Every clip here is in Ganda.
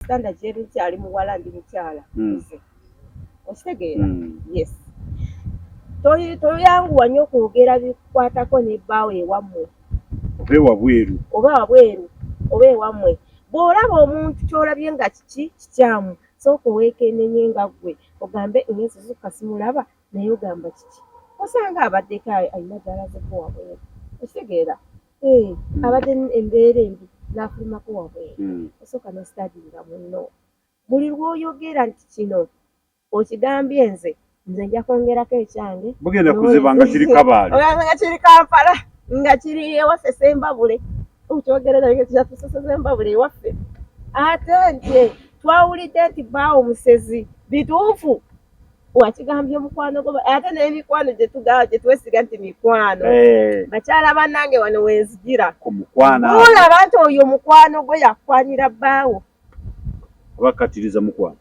ekitanda kyeri kyali muwala ndi mukyala hmm. nze okitegeera hmm. yes toyanguwa nnyo okwogera bikwatako ne bbaawo ewammwe oba ewabweru oba wabweru oba ewammwe bw'olaba omuntu ky'olabye nga kiki kikyamu sooka oweekennenye nga ggwe ogambe engenzi zokka simulaba naye ogamba kiki osanga abaddeko alina gy'alazeko wabweru okitegeera Eh, hmm. abadde embeera embi n'afulumako wabweru hmm. osooka n'ositadinga munno buli lw'oyogera nti kino okigambye nze nze nja kwongerako ekyange bugenda kuziba nga kiri kabaale nga kiri kampala nga kiri ewaffe sembabule okyogera naye nga kyatuseseza embabule ewaffe ate nti twawulidde nti baawo musezi bituufu wakigambye mukwano gwo ate n'emikwano gyetugaba gyetwesiga nti mikwano eh. bakyala banange wano wenzigira olaba nti oyo mukwano gwo yakwanira bbaawo abakatiriza mukwano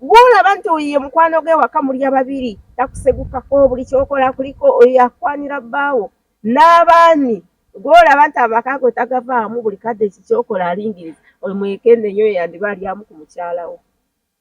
gwolaba nti oyo ye mukwano gwe waka mulya babiri takusegukako buli kyokola kuliko oyo yakwanira bbaawo n'abaani gwolaba nti amaka go tagavaamu buli kadde kikyokola alingiriza oyo mwekenenyo yandiba alyamu ku mukyalawo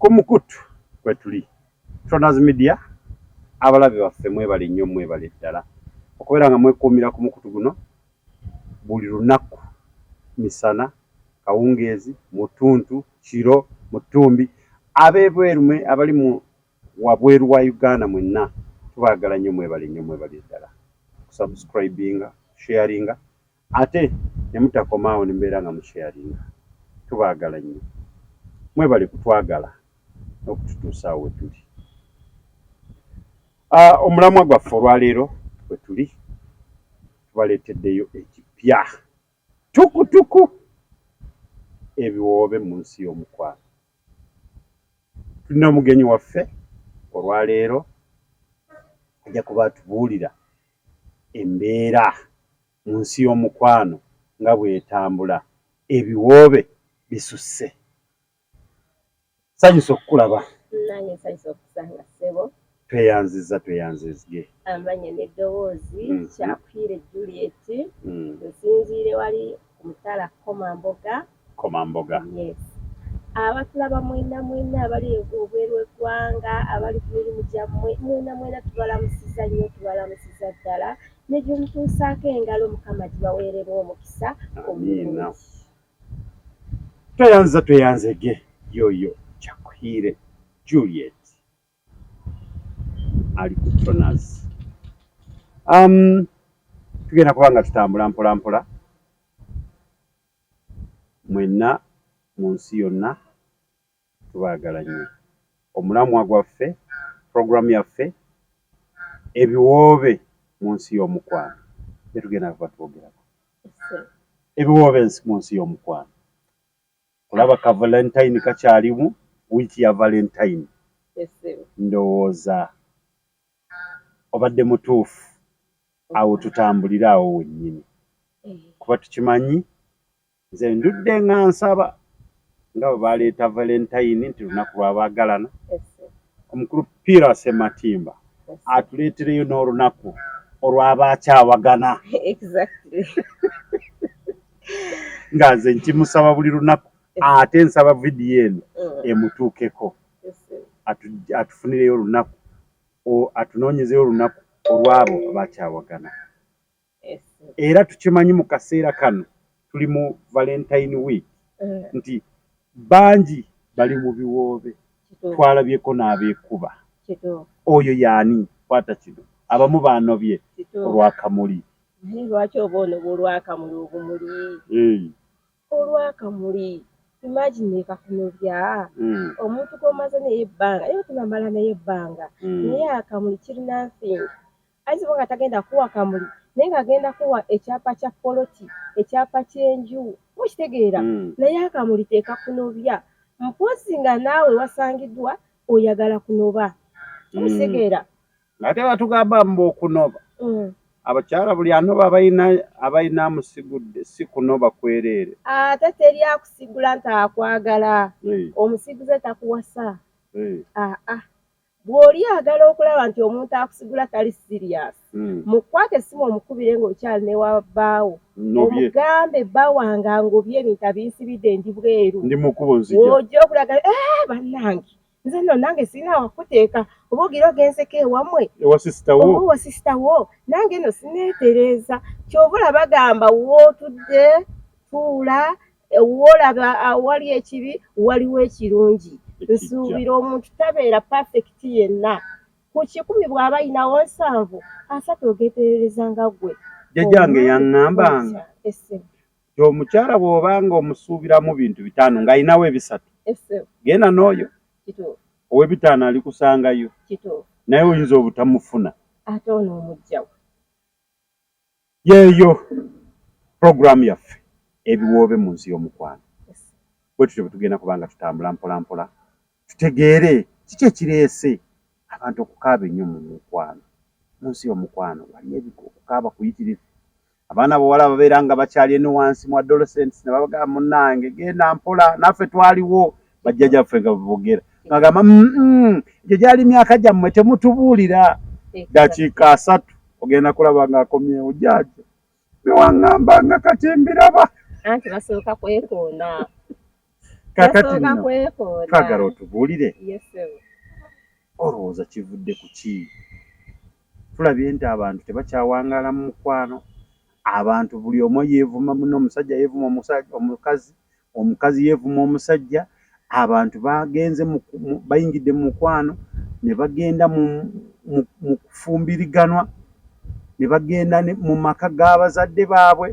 Ku mukutu kwetuli Tronaz Media, abalabe baffe mwebale nnyo mwebale ddala okubeera nga mwekuumira ku mukutu guno buli lunaku, misana, kawungeezi, mu ttuntu, kiro, mu ttumbi. Ab'ebweru mwe abali mu wabweru wa Uganda mwenna tubaagala nnyo mwebale nnyo mwebale ddala kusubscribinga, sharinga Ate nemutakoma awo nemubeera nga mu sharinga. Tubaagala nnyo. Mwebale kutwagala n'okututuusa awo wetuli. Uh, omulamwa gwaffe olwaleero wetuli tubaleeteddeyo ekipya tukutuku ebiwoobe mu nsi y'omukwano. Tulina omugenyi waffe olwaleero ajja kuba atubuulira embeera mu nsi y'omukwano nga bw'etambula, ebiwoobe bisusse. Nsanyuse okukulaba. Nange nsanyuse okusanga ssebo. Tweyanzizza tweyanzizge. Amanya n'eddoboozi mm -hmm. Kyakwire Juliet mm. nsinziire wali ku mutala Komamboga. Komamboga. Yes. Abatulaba mwena mwena abali obweru eggwanga abali ku mirimu gyammwe mwena mwena tubalamusiza nnyo tubalamusiza ddala ne gye mutuusaako engalo mukama gibaweererwa omukisa amiina tweyanza tweyanzege yoyo kyakuhiire juliet ali ku tonas um, tugenda kuba nga tutambula mpolampola mpola. mwenna mu nsi yonna tubaagala nnyo. Omulamwa gwaffe, program yaffe ebiwoobe mu nsi y'omukwano byetugenda kuba twogerako ebiwoobe mu nsi y'omukwano olaba ka valentine kakyalimu wiiki ya valentine ndowooza obadde mutuufu awo tutambulire awo wennyini kuba tukimanyi nze ndudde nga nsaba nga bwe baleeta valentayini nti lunaku lwabaagalana omukulu piira sematimba atuleetereyo n'olunaku olwabaakyawagana nga nze nkimusaba buli lunaku ate nsaba vidiyo eno mm. emutuukeko atufunireyo olunaku atunoonyezeyo olunaku olwabo abakyawagana era tukimanyi mu kaseera kano tuli mu valentine week eh. nti bangi bali mu biwoobe twalabyeko n'abeekuba oyo yaani kwata kino abamu baanobye olwakamuli lwaki oba onobwa olwakamuli obumuli olwakamuli imagine kakunobya mm. omuntu gwomaze naye ebbanga era tunamala naye ebbanga mm. naye akamuli kiri nothing ayinza oba nga tagenda kuwa kamuli naye ng'agenda kuwa ekyapa kya poloti ekyapa ky'enju mukitegeera mm. naye akamuli tekakunobya mpozi nga naawe wasangiddwa oyagala kunoba mukitegeera mm. ate batugamba mbu okunoba mm. abakyala buli anoba abalina abalina amusigudde si kunoba kwereere ate teri akusigula nti akwagala omusiguze takuwasa aa bw'oli agala okulaba nti omuntu akusigula tali sirias mm. mukwate simu omukubire ng'okyali ne wabbaawo omugambe bba wange ngobye ebintu abinsibidde ndi bweru ojja okulaga eh, bannange nze no nange sirina wakuteeka oba ogira ogenzeko ewamwe owa sisita wo nange no sineetereeza kyova olaba gamba wootudde tuula woolaba awali ekibi waliwo ekirungi nsuubira omuntu tabeera pafekiti yenna ku kikumi bw'aba yinawo nsanvu asatu ogeeterereza nga gwe jajjange yaŋŋambanga ti omukyala bwoba nga omusuubiramu bintu bitaano nga alinawo ebisatu genda n'oyo owebitaano alikusangayo naye oyinza obutamufuna ate ono omujjawo yeeyo puroguramu yaffe ebiwoobe mu nsi y'omukwano bwe tutyo bwe tugenda kubanga tutambula mpolampola tutegeere kiki ekireese abantu okukaaba ennyo mu mukwano. Mu nsi y'omukwano waliyo ebika okukaaba kuyitirivu. Abaana bawala ababeera nga bakyali eno wansi mu adolescents ne babagamba munnange genda mpola naffe twaliwo bajjaja ffe nga bebogera ngagamba egyo gyali myaka gyammwe temutubuulira dakiika asatu ogenda kulaba ng'akomyewo jaaja newaŋambanga kati mbiraba anti basooka kwekoona kakati twagala otubuulire olowooza kivudde ku ki tulabye nti abantu tebakyawangaala mu mukwano abantu buli omu yeevuma muno omusajja yeevuma omukazi omukazi yeevuma omusajja, abantu bagenze bayingidde mu mukwano ne bagenda mu kufumbiriganwa ne bagenda mu maka g'abazadde baabwe,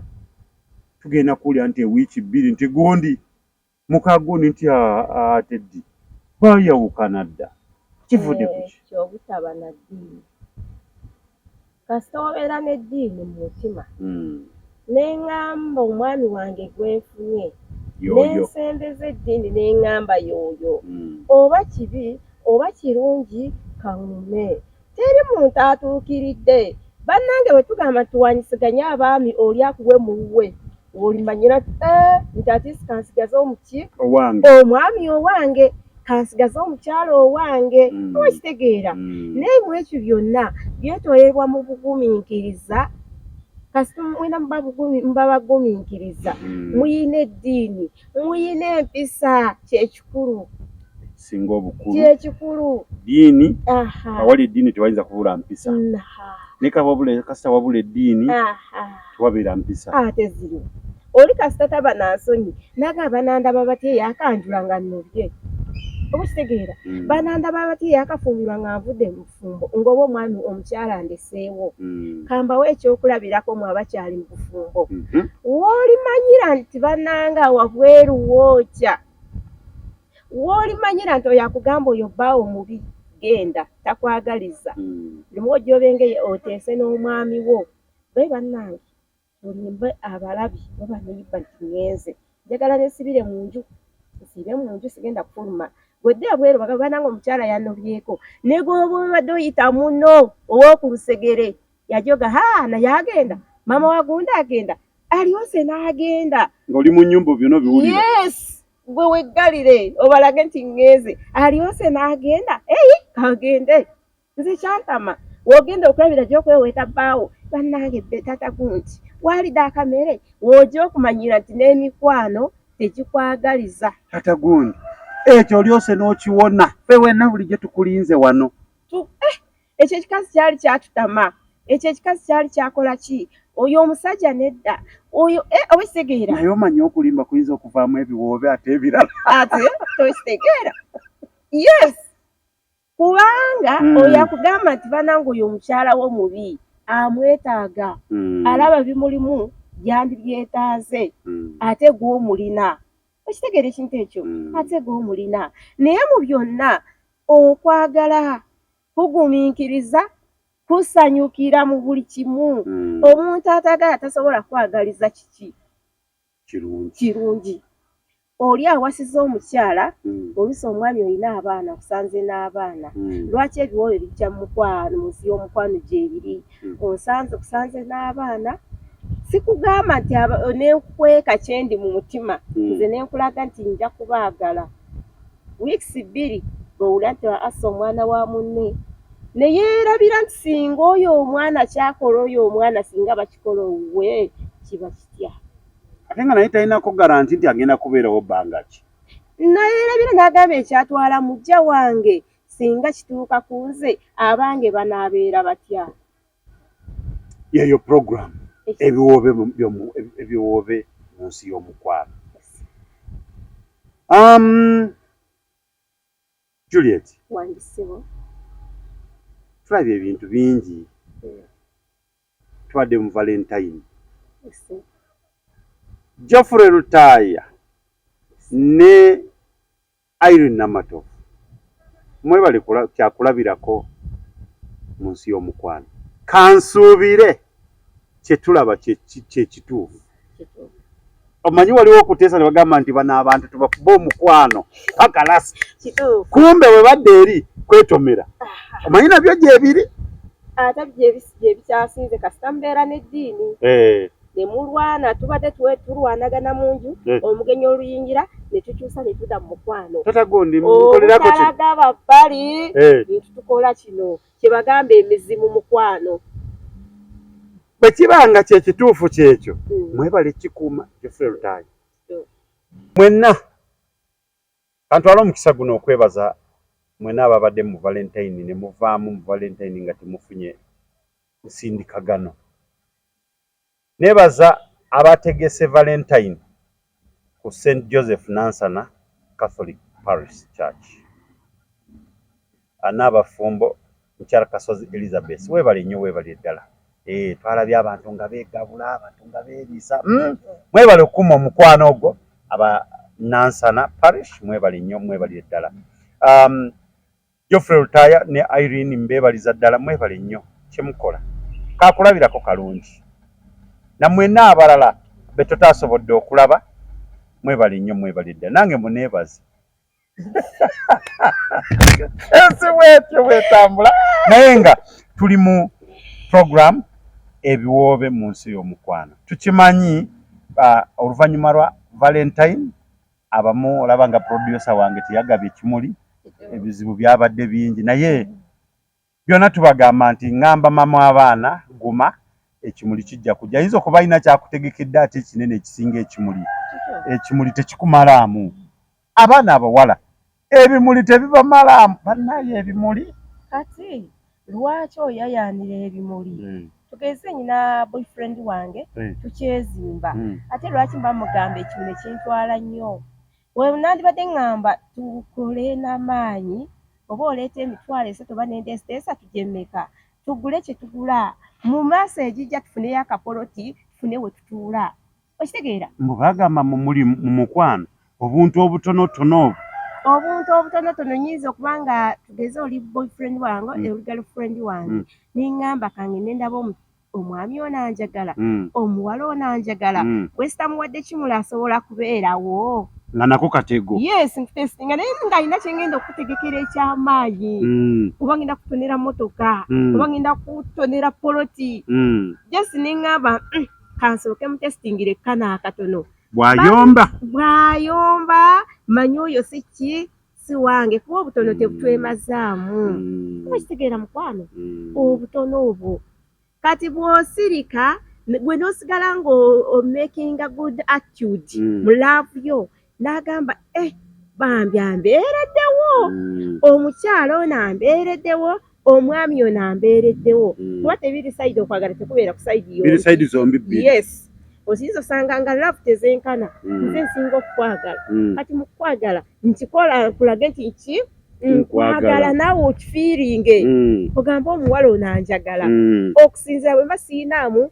tugenda kuwulira nti ewiiki bbiri nti gundi muka gundi nti ate ddi baayawukana dda kivudde ku ki? Kasita obeera n'eddiini mu mutima mm. ne ng'amba omwami wange gwe nfunye ne nsembeza eddiini ne ng'amba yooyo mm. oba kibi oba kirungi kaŋume teri muntu atuukiridde bannange bwe tugamba nti tuwanyisiganye abaami oli akuwe mu wuwe olimanyira nti eh, nti atiisikansigaza omuki omwami owange kansigaze omukyalo owange mm. oba kitegeera mm. naye mu ekyo byonna byetolerwa mu bugumiikiriza kasita mwena mubabagumiikiriza mm. muyina eddiini muyina empisa kyekikulu singa obukulu kyekikulu diini awali eddiini tewayinza kubula mpisa nekababula kasita wabula eddiini tewabeera mpisa ate ah, ziriwo oli kasita taba nansonyi naga abanandaba batya yakanjula nga nobye oba kitegeera mm. banandaba batya yakafumbirwa nga nvudde mubufumbo ngaoba omwami omukyala ndeseewo mm. kambawo ekyokulabirako mwe abakyali mubufumbo mm-hmm. wolimanyira nti bananga wabweru wookya wolimanyira nti oyo akugamba oyo baawo mubi genda takwagaliza mm. lumu ojobengeye oteese n'omwami wo baye banange Mulimbe abalabi oba baneyibba nti ngenze njagala nesibire munju nsiibe munju sigenda kufuluma gwedde ebweru bagamba banange omukyala yanobyeko negwoba obadde oyita muno owokulusegere yajoga ha naye agenda mama wagundi agenda alyose nagenda ngoli munyumba byona obiwulira yes gwe weggalire obalage nti ngenze alyose nagenda eyi kagende nze kyantama wogenda okulabira gyokweweeta bbaawo bannange bbe tata gunti waalidde akamere wooja okumanyira nti n'emikwano tegikwagaliza tata gundi ekyo olyose n'okiwona fe wenna bulijjo tukulinze wano eh, ekyo ekikazi kyali kyatutama ekyo ekikazi kyali kyakola ki oyo omusajja nedda oyo eh, oba ekitegeera naye omanya okulimba kuyinza okuvaamu ebiwoobe ate ebirala ate tokitegeera yes kubanga mm. oyo akugamba nti banange oyo omukyala wo mubi amwetaaga mm. alaba bimulimu yandibyetaaze mm. ate gwomulina okitegeera ekintu ekyo mm. ate gwomulina naye mu byonna okwagala kugumiikiriza kusanyukira mu buli kimu mm. omuntu atagala tasobola kwagaliza kiki kirungi oli awasiza omukyala mm. olusi omwami olina abaana kusanze n'abaana mm. lwaki ebiwoobe bijja mukwano muzi y'omukwano gyebiri mm. onsanze kusanze n'abaana sikugamba nti nenkweka kyendi mu mutima mm. nze nenkulaga nti nja kubaagala Wiikisi bbiri ng'owulira nti assa omwana wa munne ne yeerabira nti singa oyo omwana kyakola oyo omwana singa bakikola owuwe kiba kitya ate nga naye talinako garanti nti agenda kubeerawo bbanga ki nayeerabira n'agamba ekyatwala mujja wange singa kituuka ku nze abange banaabeera batya yeyo program ebiwoobe ebiwoobe mu nsi y'omukwano um, Juliet tulabye ebintu bingi tubadde mu valentine Geoffrey Lutaaya ne Irene Namatovu mwebale kyakulabirako mu nsi y'omukwano. Kansuubire kye tulaba kye kituufu. Omanyi waliwo okuteesa ne bagamba nti bano abantu tubakube omukwano paka lasi, kumbe bwe badda eri kwetomera. Omanyi nabyo gyebiri. Ate byebikyasinze kasita mbeera n'eddiini. Eh. ne mulwana tubadde tuwe tulwanagana mu nju eh. omugenyi oluyingira ne tukyusa ne tuda mu mukwano obutalaga babbali eh. ntutukola kino kye bagamba emizimu mukwano bwe kiba nga kye kituufu kyekyo hmm. mwebale kikuuma Geoffrey Lutaaya hmm. mwenna kantwala omukisa guno okwebaza mwena ababadde mu valentine ne muvaamu mu valentine nga temufunye nsindikagano Neebaza abaategese Valentayini ku St Joseph Nansana Catholic Parish Church. Banno abafumbo, Mukyala Kasozi Elizabeth weebale nnyo weebalire ddala. Ee eh, twalabye abantu nga beegabula, abantu nga beeriisa. Hmm, mwebale okukuma omukwano ogwo. Aba Nansana Parish mwebale nnyo mwebalire ddala. Um, Geoffrey Lutaaya ne Irene mbeebaliza ddala mwebale nnyo kye mukola. Kaakulabirako kalungi. Na mwenna abalala be tutaasobodde okulaba mwebale nnyo mwebale ddala. Nange muneebaze. Ensi bw'etyo bw'etambula. Naye nga tuli mu program ebiwoobe mu nsi y'omukwano. Tukimanyi oluvannyuma lwa Valentine abamu olaba nga producer wange teyagabye kimuli ebizibu byabadde bingi naye byonna tubagamba nti ngamba mama abaana guma ekimuli kijja kujja ayinza okuba alina kyakutegekedde ate ekinene ekisinga ekimuli ekimuli tekikumalamu abaana abawala ebimuli tebibamalaamu bannaye ebimuli kati lwaki oyayaanira ebimuli hmm. tugeze nyina boyfriend wange hmm. tukyezimba hmm. ate lwaki mba mugamba ekimu ne kintwala nnyo wenandibadde ŋŋamba tukole n'amaanyi oba oleeta emitwalo esatu oba nende esiteesa tujemmeka tugule kye tugula mu maaso egijja tufuneyo akapoloti tufune we tutuula okitegeera mbu bagamba muli mu mukwano obuntu obutonotono obwo obuntu obutonotono nyinza okuba nga tugeze oli boyfriend wange mm. oli girlfriend wange mm. ningamba kange nendaba omwami ono anjagala mm. omuwala ono anjagala mm. wesitamuwadde kimula asobola kubeerawo nga nako katego yes ntesi nga naye nga alina kyengenda okutegekera ekyamaanyi mm. oba ngenda kutonera motoka mm. oba ngenda kutonera poloti mm. just nengamba mm. kansooke mutesitingire kana akatono bwayomba bwayomba manyi oyo si ki si wange kuba obutono tebutwemazaamu mm. kuba kitegeera mukwano mm. obutono obwo kati bwosirika gwe nosigala nga omakinga good attitude mm. mu laavu yo n'agamba eh, bambi ambeereddewo mm. omukyala ono ambeereddewo omwami ono ambeereddewo mm. kuba tebiri sayidi okwagala tekubeera ku sayidi zombi yes osinza osanga nga love tezenkana mm. nze nsinga okukwagala kati mukukwagala nkikola kulage nti ki nkwagala naawe okifiiringe ogamba omuwala ono anjagala okusinzira bwe mba siyinaamu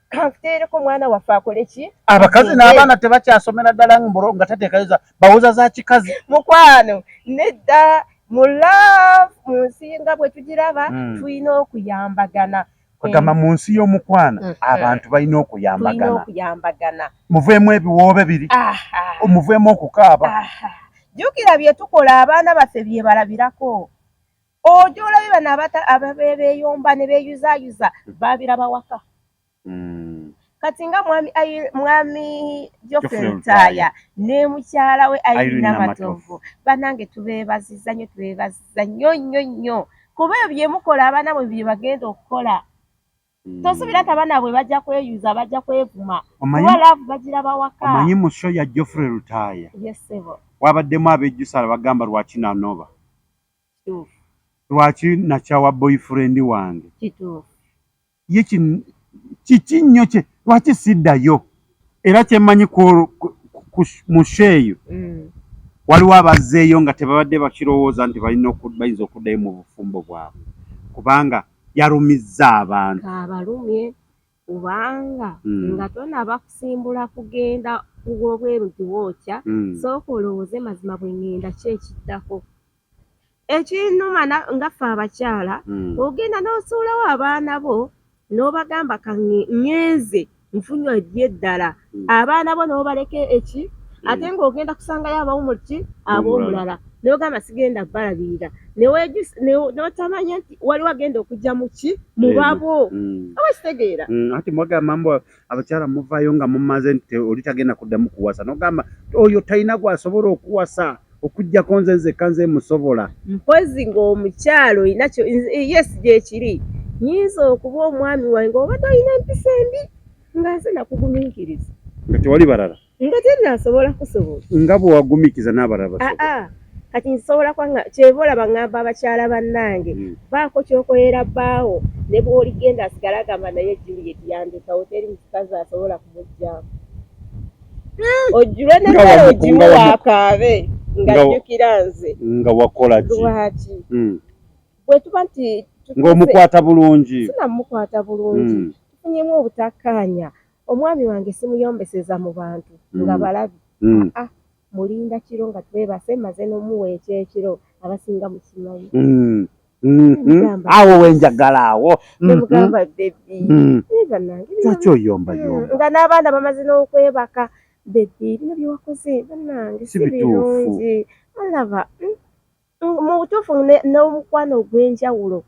kanfuteereko mwana waffe akole ki abakazi n'abaana tebakyasomera ddala mbro nga tateekayoza bawoza za kikazi mukwano nedda mu love mu nsi nga bwe tugiraba hmm. tulina okuyambagana agamba mu nsi y'omukwano hmm. abantu balina okuyambagana muveemu ebiwoobe biri muveemu okukaaba jjukira bye tukola abaana baffe bye balabirako ojo olabe bano ababebeyomba ne beyuzayuza babiraba waka mm. kati nga mwami mwami jofrey mutaya ne mukyala we airina matovu banange tubebaziza nyo tubebaziza nyo nyo nyo kuba ebyo byemukola abaana bwe bye bagenda okukola hmm. tosubira nti abaana bwe bajja kweyuza bajja kwevuma kuba laavu bagira bawaka omanyi mu sho ya joffrey lutaaya wabaddemu abejjusala bagamba lwaki nanoba lwaki nakyawa boyfriend wange ye kiki nnyo kye lwaki siddayo era kyemmanyi mu sho eyo mm. waliwo abazzeeyo nga tebabadde bakirowooza nti balina bayinza okuddayo mu bufumbo bwabwe kubanga yarumizza abantu abalumye kubanga mm. nga tonaba kusimbula kugenda wobweru giwookya mm. sooka olowooze mazima bwe ŋŋenda ki ekiddako ekinuma nga ffe abakyala mm. ogenda n'osuulawo abaana bo n'obagamba kaŋŋenze nfunye eddala hmm. abaana bo nobaleka eki hmm. ate ngaogenda kusangayo abawumulki abomulala nogamba sigenda balabirira notamanya nti waliwo agenda okujja muki mubabo awakitegeera hmm. ati mwaga mambo abakyala muvayo nga mumaze nti oli tagenda kuddamu kuwasa nogamba oyo talina gwasobola okuwasa okujjako nze nzekka nze musobola mpozi ngaomukyalo inakyo yes gyekiri nyinza okuba omwami wange oba tolina empisa embi nga nze nakugumiikiriza nga tewali balala nga tenasobola kusobola nga bwewagumiikiza n'abalala basobola ah, ah. kati nsobola kwanga kyeva olaba ngamba abakyala bannange hmm. baako kyokoyera baawo ne bwoligenda asigala agamba naye juliet yandekawo teri mukazi asobola kumugyamu hmm. ojjulwe nagala ogimu wakaabe ngajjukira nze nga wakola ki lwaki hmm. bwetuba nti ng'omukwata bulungi sinamukwata bulungi mm. tufunyemu obutakkaanya omwami wange simuyombeseza mu bantu mm. nga balabi mm. ah, ah, mulinda kiro nga twebase maze n'omuwa ekyekiro abasinga mukimanyi mm. Mm-hmm. awo wenjagala awo nemugamba mm-hmm. bebi mm. banange lwaki oyombayomba nga n'abaana bamaze n'okwebaka bebi bino byewakoze banange si birungi olaba mu butuufu n'omukwano ogw'enjawulo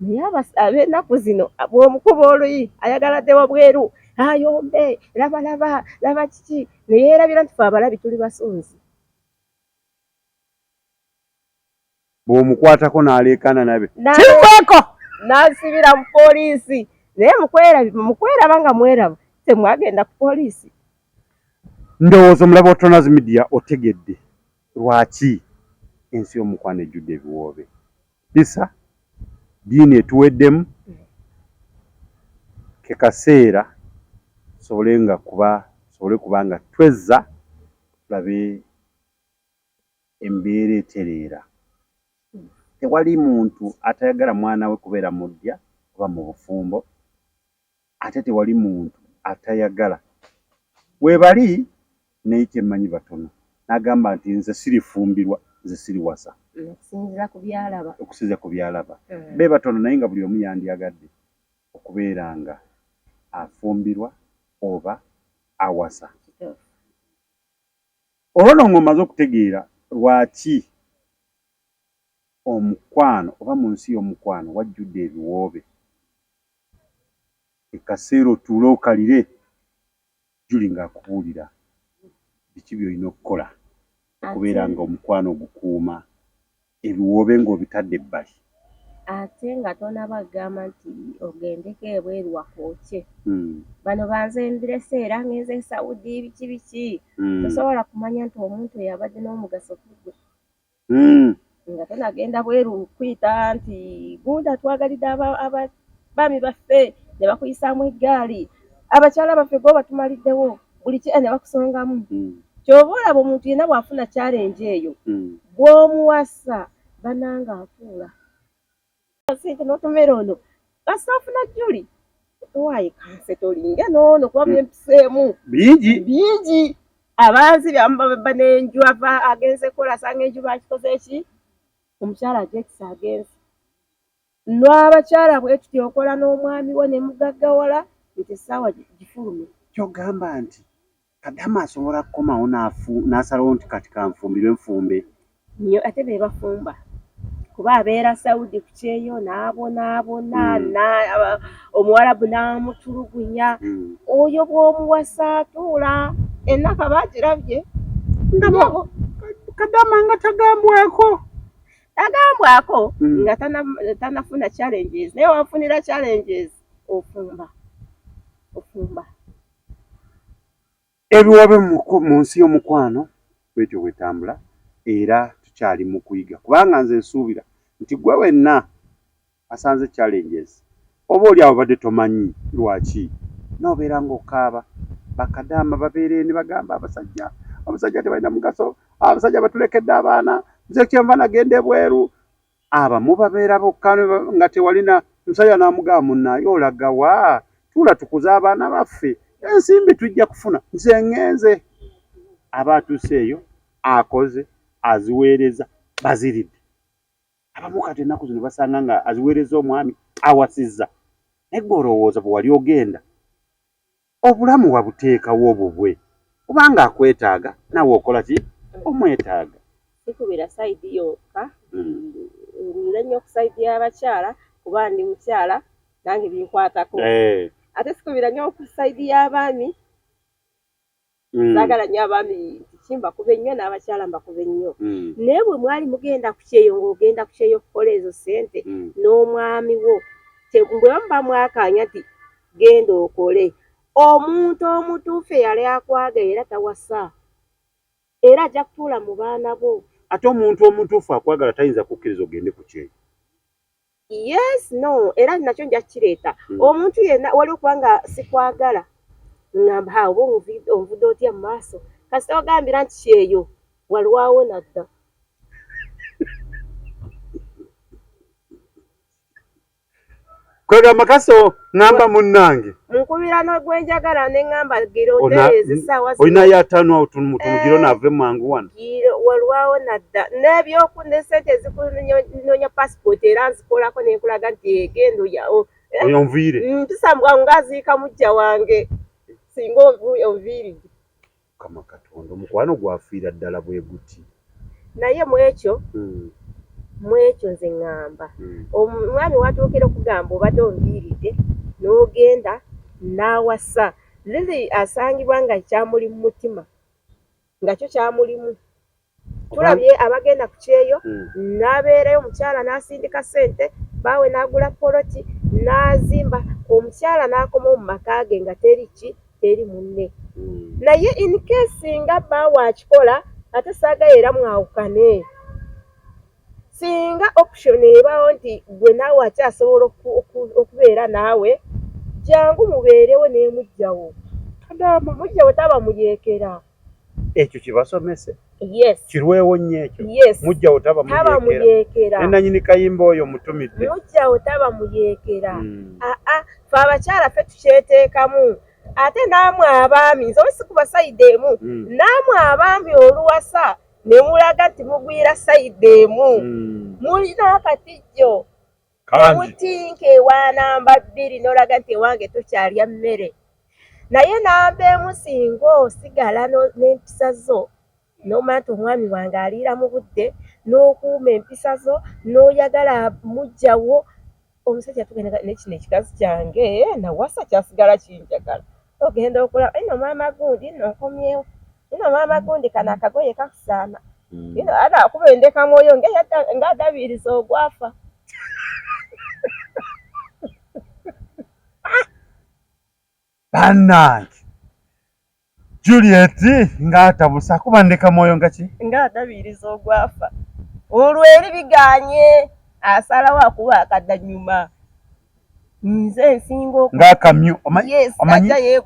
naye ab'ennaku zino bw'omukuba oluyi ayagala dde wabweru ayombe labalaba laba kiki ne yeerabira nti fe abalabi tuli basunzi bw'omukwatako n'aleekaana nabe kikweko n'asibira mu poliisi naye mukweraba nga mweraba temwagenda ku poliisi ndowooza omulaba wa tonaz media otegedde Lwaki ensi yomukwano ejjudde ebiwoobe? Kisa diini etuweddemu kekaseera tusobole nga kuba tusobole kuba nga twezza tulabe embeera etereera. Tewali muntu atayagala mwana we kubeera muddya oba mubufumbo. ate tewali muntu atayagala webali naye kyemmanyi batono n'agamba nti nze sirifumbirwa nze siriwasa okusinzira ku byalaba okusinzira ku byalaba hmm. be batono naye nga buli omu yandyagadde okubeera nga afumbirwa oba awasa olwo no ng'omaze okutegeera lwaki omukwano oba mu nsi y'omukwano wajjudde ebiwoobe Ekaseera otuule okalire, Julie ng'akubuulira biki by'olina okukola okubeera ng'omukwano ogukuuma, ebiwoobe ng'obitadde ebbali. Ate nga tonaba gamba nti ogendeko ebweru wakookye. Bano banze mbirese era ngenze e Saudi biki biki, tosobola kumanya nti omuntu eyabadde n'omugaso ku ggwe. mm. nga tenagenda bweru kuyita nti gunda twagalidde abaami baffe ne bakuyisaamu eggaali abakyala baffe gwe batumaliddewo buli ki ne bakusongamu mm. kyova olaba omuntu yena bwafuna kyalenje eyo mm. bwomuwasa bananga afuula sente notomera ono kasita ofuna juli owaye kanse tolinga noono kuba hmm. byempiseemu bingi bingi abanzi byamubabeba nenju ava agenze kola asanga enju bakikoze eki omukyala ajekisa agenze nwabakyala bwetuti okola n'omwami wo nemugagawala nti esaawa gifulume kyogamba nti kadama asobola kukomawo n'asalawo nti kati kanfumbirwe nfumbe nyo ate be bafumba kuba abeera saudi ku kyeyo n'abonaabona hmm. omuwarabu n'amutulugunya hmm. oyo bw'omuwasa atuula enaka bagirabye kadama nga tagambwako tagambwako hmm. nga tanafuna challenges naye wafunira challenges ofumba ofumba Ebiwabe mu nsi y'omukwano bwetyo bwetambula era tukyali mu kuyiga kubanga nze nsuubira nti gwe wenna asanze challenges oba oli awo badde tomanyi lwaki nobeera ng'okaaba bakadaama babeera eni bagamba abasajja abasajja tebalina mugaso abasajja batulekedde abaana nze kyenva nagenda ebweru abamu babeera bokka nga tewalina musajja n'amugamba munnaaye olaga wa tuula tukuze abaana baffe ensimbi tujja kufuna nze ŋŋenze aba atuuse eyo akoze aziweereza baziridde abamu kati ennaku zino basanga nga aziweereza omwami awasizza naye gwe olowooza bwe wali ogenda Obulamu wabuteekawo bubwe kubanga akwetaaga naawe okola ki omwetaaga. Sikubira sayidi yokka ngulire nnyo ku sayidi y'abakyala kuba ndi mukyala nange binkwatako eh. ate sikubira nnyo ku sayidi y'abaami mm. sagala nyo abaami kimbakuba ennyo n'abakyala mbakuba ennyo mm. naye bwe mwali mugenda ku kyeyo ng'ogenda ku kyeyo okukola ezo ssente mm. n'omwami wo bwemuba mwakaanya nti genda okole omuntu omutuufu eyali akwaga era tawasa era ajja kutuula mu baana bo ate omuntu omutuufu akwagala tayinza kukkiriza ogende ku kyeyo yes no era nakyo nja kireeta hmm. omuntu yenna waliwo kubanga sikwagala ngamba ha oba onvudde otya mu maaso kasita ogambira nti kyeyo walwawo nadda kwegamba kaso ngamba munange nkubira nogwenjagala nengamba gira otereeza essaawa olina yataano awo tumutumu gira onaave eh, mangu wano walwawo nadda nebyoku ne sente ezikunoonya pasipooti era nzikolako nenkulaga nti egenda eh, oyo nviire mpisambwa mm, ngaziika mujja wange singa onviiride mukama katonda omukwano gwafiira ddala bwe guti naye mu ekyo hmm. mu ekyo nze ŋŋamba hmm. omwami watuukira okugamba obadde onviiridde n'ogenda n'awasa lili asangibwa nga kyamuli mu mutima nga kyo kyamulimu tulabye abagenda ku kyeyo hmm. n'abeerayo omukyala n'asindika ssente baawe n'agula poloti n'azimba omukyala n'akomawo mu maka ge nga teri ki teri munne hmm. naye in case nga baawe akikola ate saagayo era mwawukane singa option ebaawo nti gwe naawe akyasobola okubeera naawe jangu mubeerewo n'emujjawo mujjawo taba muyeekera ekyo kibasomese yes kirwewo nnyo ekyo yes mujja otaba taba muyeekera nenanyini kayimba oyo mutumidde mujja otaba muyeekera mm. aa ah, ah, fe abakyala fe tukyeteekamu ate naamwe abaami nze wesi kuba sayidi emu mm. naamwe abaami oluwasa ne mulaga nti mugwira sayidi emu mm. mulina akatijjo omutinka ewa namba bbiri n'olaga nti ewange tokyalya mmere naye namba emu singa osigala n'empisa zo n'omanya nti omwami wange aliira mu budde n'okuuma empisa zo n'oyagala mujjawo omusajja tugenda naye kino ekikazi kyange nawasa kyasigala kinjagala ogenda okulaba ino maama gundi no nkomyewo ino maama mm. gundi kana akagoye kakusaana mm. ino ada kuba endeka mwoyo nga adabiriza ogwafa banange Juliet ngatabusa kuba ndeka mwoyo nga ki nga adabiriza ogwafa olweri biganye asalawo akuba akadanyuma nze nsinga ng'akamyu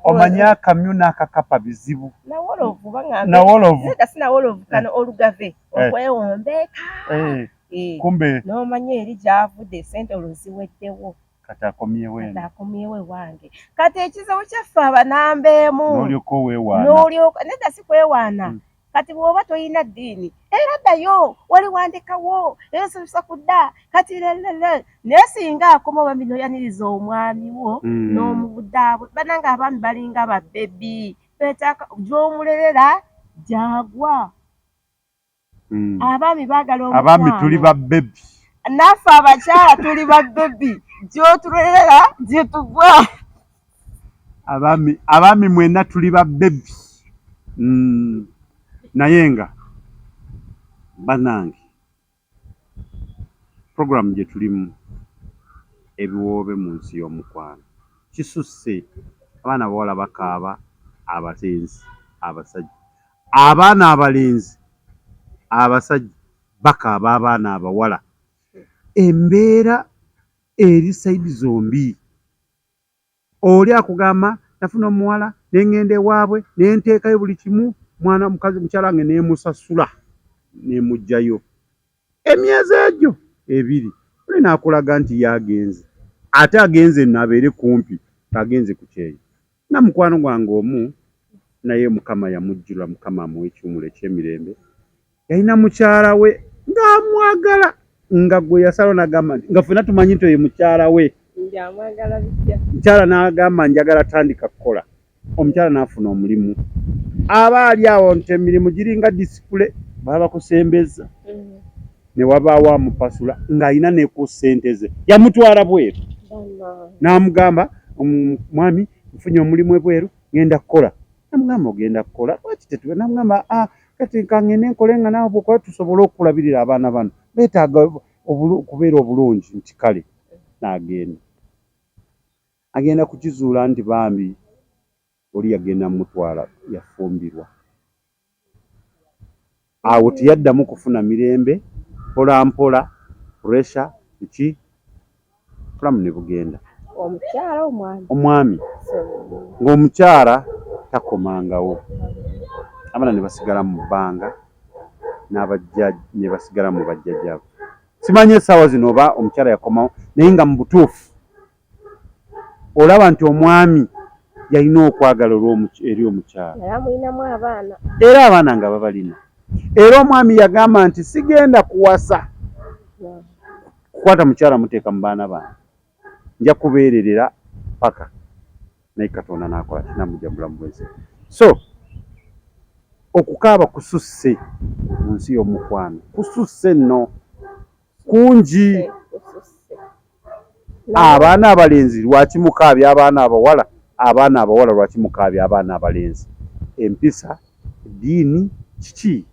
omanyi akamyu n'akakapa bizibu nawolovu bangambnawolovu naye gasi nawolovu kano eh. olugave eh. okwewombeeka eh. kumbe n'omanyi eri gy'avudde esente olwo ziweddewo kati akomyewo eno kati akomyewo ewange kati ekizibu kyaffe abanambeemu n'olyoka oweewaana n'olyoka nedda si kwewaana hmm. kati bwoba toyina ddiini era ddayo wali wandikawo era osomesa ku dda kati lelele naye singa akoma oba bino yaniriza omwami wo mm. n'omubudaabwe bananga abaami balinga babebi betaka gyomulerera gyagwa mm. abaami bagala abaami tuli babebi naffe abakyala tuli babebi gyotulerera gyetugwa abaami abaami mwena tuli ba bebi mm. naye nga banange programu gye tulimu ebiwoobe mu nsi y'omukwano kisusse abaana bawala bakaaba abatenzi abasajja abaana abalenzi abasajja bakaaba abaana abawala embeera eri saidi zombi Oli akugamba nafuna omuwala ne ŋŋenda ewaabwe ne nteekayo buli kimu mwana mukazi mukyala wange ne musasula ne muggyayo. Emyezi egyo ebiri oli n'akulaga nti ye agenze ate agenze nno abeere kumpi ng'agenze ku kyeyo. Nnina mukwano gwange omu naye Mukama yamujjirwa, Mukama amuwe ekiwummulo eky'emirembe. yalina mukyala we ng'amwagala nga gwe yasalawo n'agamba nti nga ffena tumanyi nti oyo mukyala we mukyala n'agamba njagala tandika kukola omukyala n'afuna omulimu aba ali awo nti emirimu giringa disipule baba bakusembeza mm. ne wabaawo amupasula ng'alina ne ku ssente ze yamutwala bweru n'amugamba mwami nfunye omulimu ebweru ng'enda kukola namugamba ogenda kukola lwaki tetube namugamba a ah, kati kangende nkole nga naawe bwokuba tusobole okulabirira abaana bano beetaaga okubeera obulungi nti kale naagenda agenda kukizuula nti bambi oli yagenda mumutwala yafumbirwa Awo teyaddamu kufuna mirembe, mpolampola puresha biki obulamu ne bugenda. Omwami ng'omukyala takomangawo, abaana ne basigala mu bbanga ne basigala mu bajjajjaabwe. Simanyi essaawa zino oba omukyala yakomawo naye nga mu butuufu. olaba nti omwami yalina okwagala eri omukyala era abaana nga babalina era omwami yagamba nti sigenda kuwasa kukwata mukyala muteeka mu baana bange nja kubeererera paka naye katonda nakola kinamuja mubulamu bwensi so okukaaba kususse mu nsi y'omukwano kususse nno kungi abaana abalenzi lwaki mukaabya abaana abawala abaana abawala lwaki mukaabya abaana abalenzi empisa diini kiki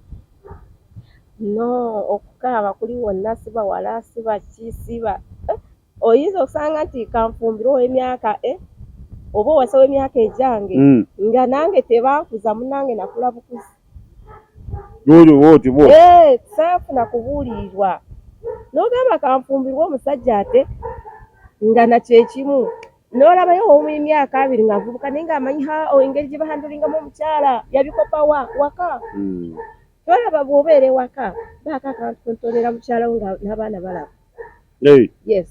no okukaaba kuli wonna sibawala sibaki siba oyinza okusanga nti kanfumbirwa owemyaka e eh, oba owasa wemyaka egyange mm. nga nange tebankuza munange nakula bukuzi eh, saafuna kubuulirirwa nogamba kanfumbirwa omusajja ate nga nakyekimu nolabayo omu emyaka abiri nga avubuka naye nga amanyi ha oh, engeri gye bahandulingamu omukyala yabikopa wa waka mm. tolaba bwobeera ewaka baaka kantu kuntonera mukyalawo nga n'abaana balaba Hey. Yes.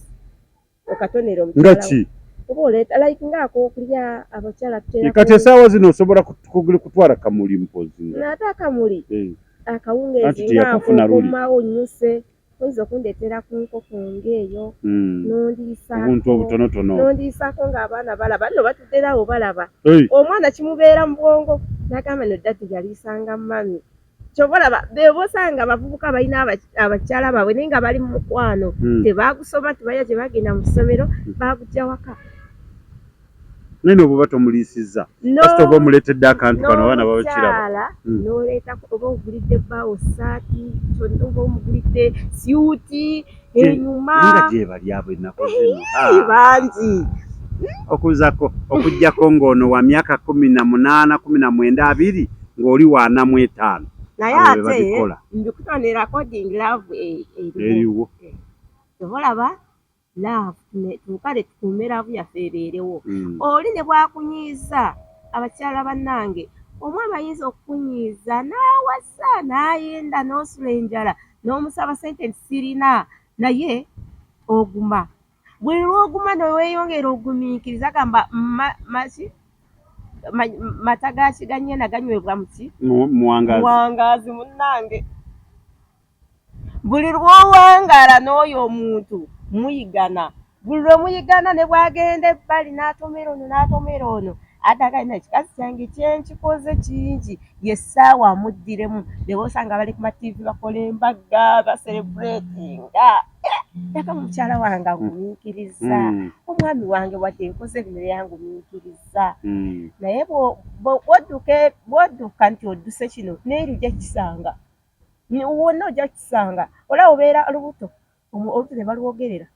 Okatonera omukyala. Nga ki? Oba oleeta like nga akokulya abakyala tutera. E, kati esaawa zino osobola kugula kutwala kamuli mpozi. Naate akamuli. Hey. Akawungeezi nga akokomawo nyuse. oyinza okundeetera ku nkoko ngaeyo hmm. nondiisaobuntu obutonotono nondiisaako ng'abaana balaba nno batudderawo balaba omwana kimubeera mu bwongo nagamba no dadi yaliisanga mami kyova olaba bebo osanga abavubuka balina abakyala baabwe naye nga bali mu mukwano hmm. tebagusoma tebalya tebagenda mu ssomero hmm. bagujja waka naye nobuba tomuliisizza kasita oba omuleetedde akantu kano abaana babakiraba hmm. noleetako oba ogulidde bbaawo saati oba omugulidde syuti enyuma nga gyebali abo ennaku zino ah. bangi okuzako okujjako ng'ono wa myaka kumi na munaana kumi na mwenda abiri ng'oli wanamu etaano naye ate mbikutonera coding love eh, eriwo obolaba eh, love tukale tukuume laavu yaffe ebeerewo hmm. oli ne bwakunyiiza abakyala bannange omu abayinza okukunyiiza n'awasa n'ayenda n'osula enjala n'omusaba sente nti sirina naye oguma buli lwoguma neweyongera ogumiikiriza gamba maki mata gakiganyena ganywebwa muki muwangazi munange buli lwowangala n'oyo omuntu muyigana buli lwe muyigana ne bwagenda ebbali n'atomera ono n'atomera ono atagana ekikazi kyange kyenkikoze kingi yessaawa amuddiremu neba osanga bali ku matiivi bakola embagga baserebuletinga yaka eh, mukyala wange agumiikiriza hmm. omwami wange wadde nkoze bino yangumiikiriza hmm. naye bwodduka nti odduse kino neeri ojja kisanga wonna ojja kisanga olaba obeera lubuto oluti ne balwogerera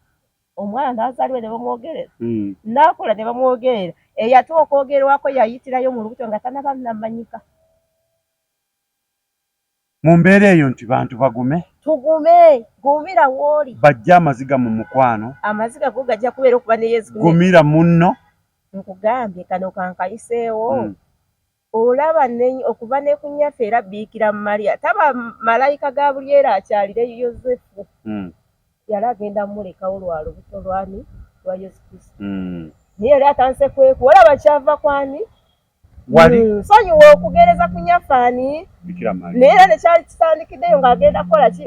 omwana n'azaalibwa ne bamwogerera hmm. n'akula ne bamwogerera eyate okwogerwako yayitirayo mu lubuto nga tanaba namanyika mu mbeera eyo nti bantu bagume tugume gumira wooli bajja amaziga mu mukwano amaziga go gajja kubeera okuba ne yesu gumira munno nkugambye kano kankayiseewo hmm. Olaba nnenyi okuva ne ku nnyaffe era Biikira Maria taba malayika Gabulyeri akyalire Yozefu. Mm. Yali agenda mulekawo lwa lubuto lwani lwa Yesu Kristo. Mm. Naye yali atanse kweku olaba kyava kwani wali mm, nsonyiwa okugereza ku nyaffe ani naye era nekyali kitandikiddeyo ng'agenda kukola ki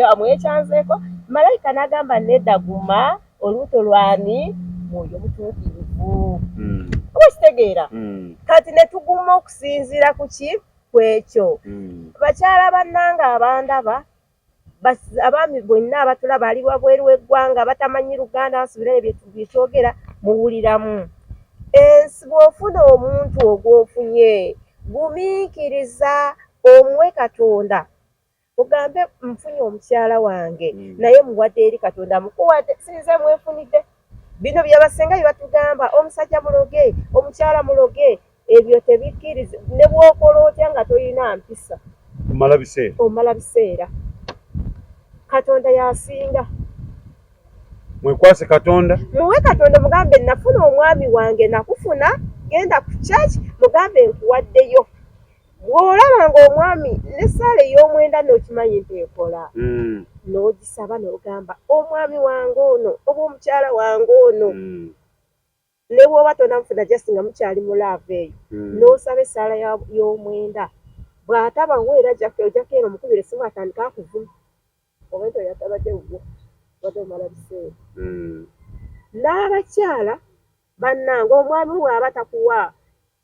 amwekyanzeeko malayika n'agamba nedda guma olubuto lwani mwoyo mutuukirivu hmm. oba okitegeera hmm. kati ne tuguma okusinziira ku ki ku ekyo hmm. bakyala bannanga abandaba abaami bonna abatulaba ali wabweru w'eggwanga batamanyi luganda basubira ebyo byetwogera muwuliramu ensi bw'ofuna omuntu ogw'ofunye gumiikiriza omuwe katonda ogambe nfunye omukyala wange mm. naye muwadde eri katonda mukuwadde sinze mwefunidde bino byabasenga byebatugamba omusajja muloge omukyala muloge ebyo tebikkiriza ne bwokola otya nga tolina mpisa omala biseera omala biseera katonda yasinga mwekwase katonda muwe katonda mugambe nafuna omwami wange nakufuna genda ku church mugambe nkuwaddeyo bw'olaba ng'omwami n'essaala ey'omwenda n'okimanyi nti ekola hmm. n'ogisaba n'ogamba omwami wange ono oba omukyala wange ono hmm. ne bw'oba tonamufuna just nga mukyali mu laava eyo hmm. n'osaba essaala y'omwenda bw'ataba wo era ojjako eno omukubira essimu atandika akuvuma oba nti oyatabadde wuwo obadde omala biseera n'abakyala bannange omwami waaba takuwa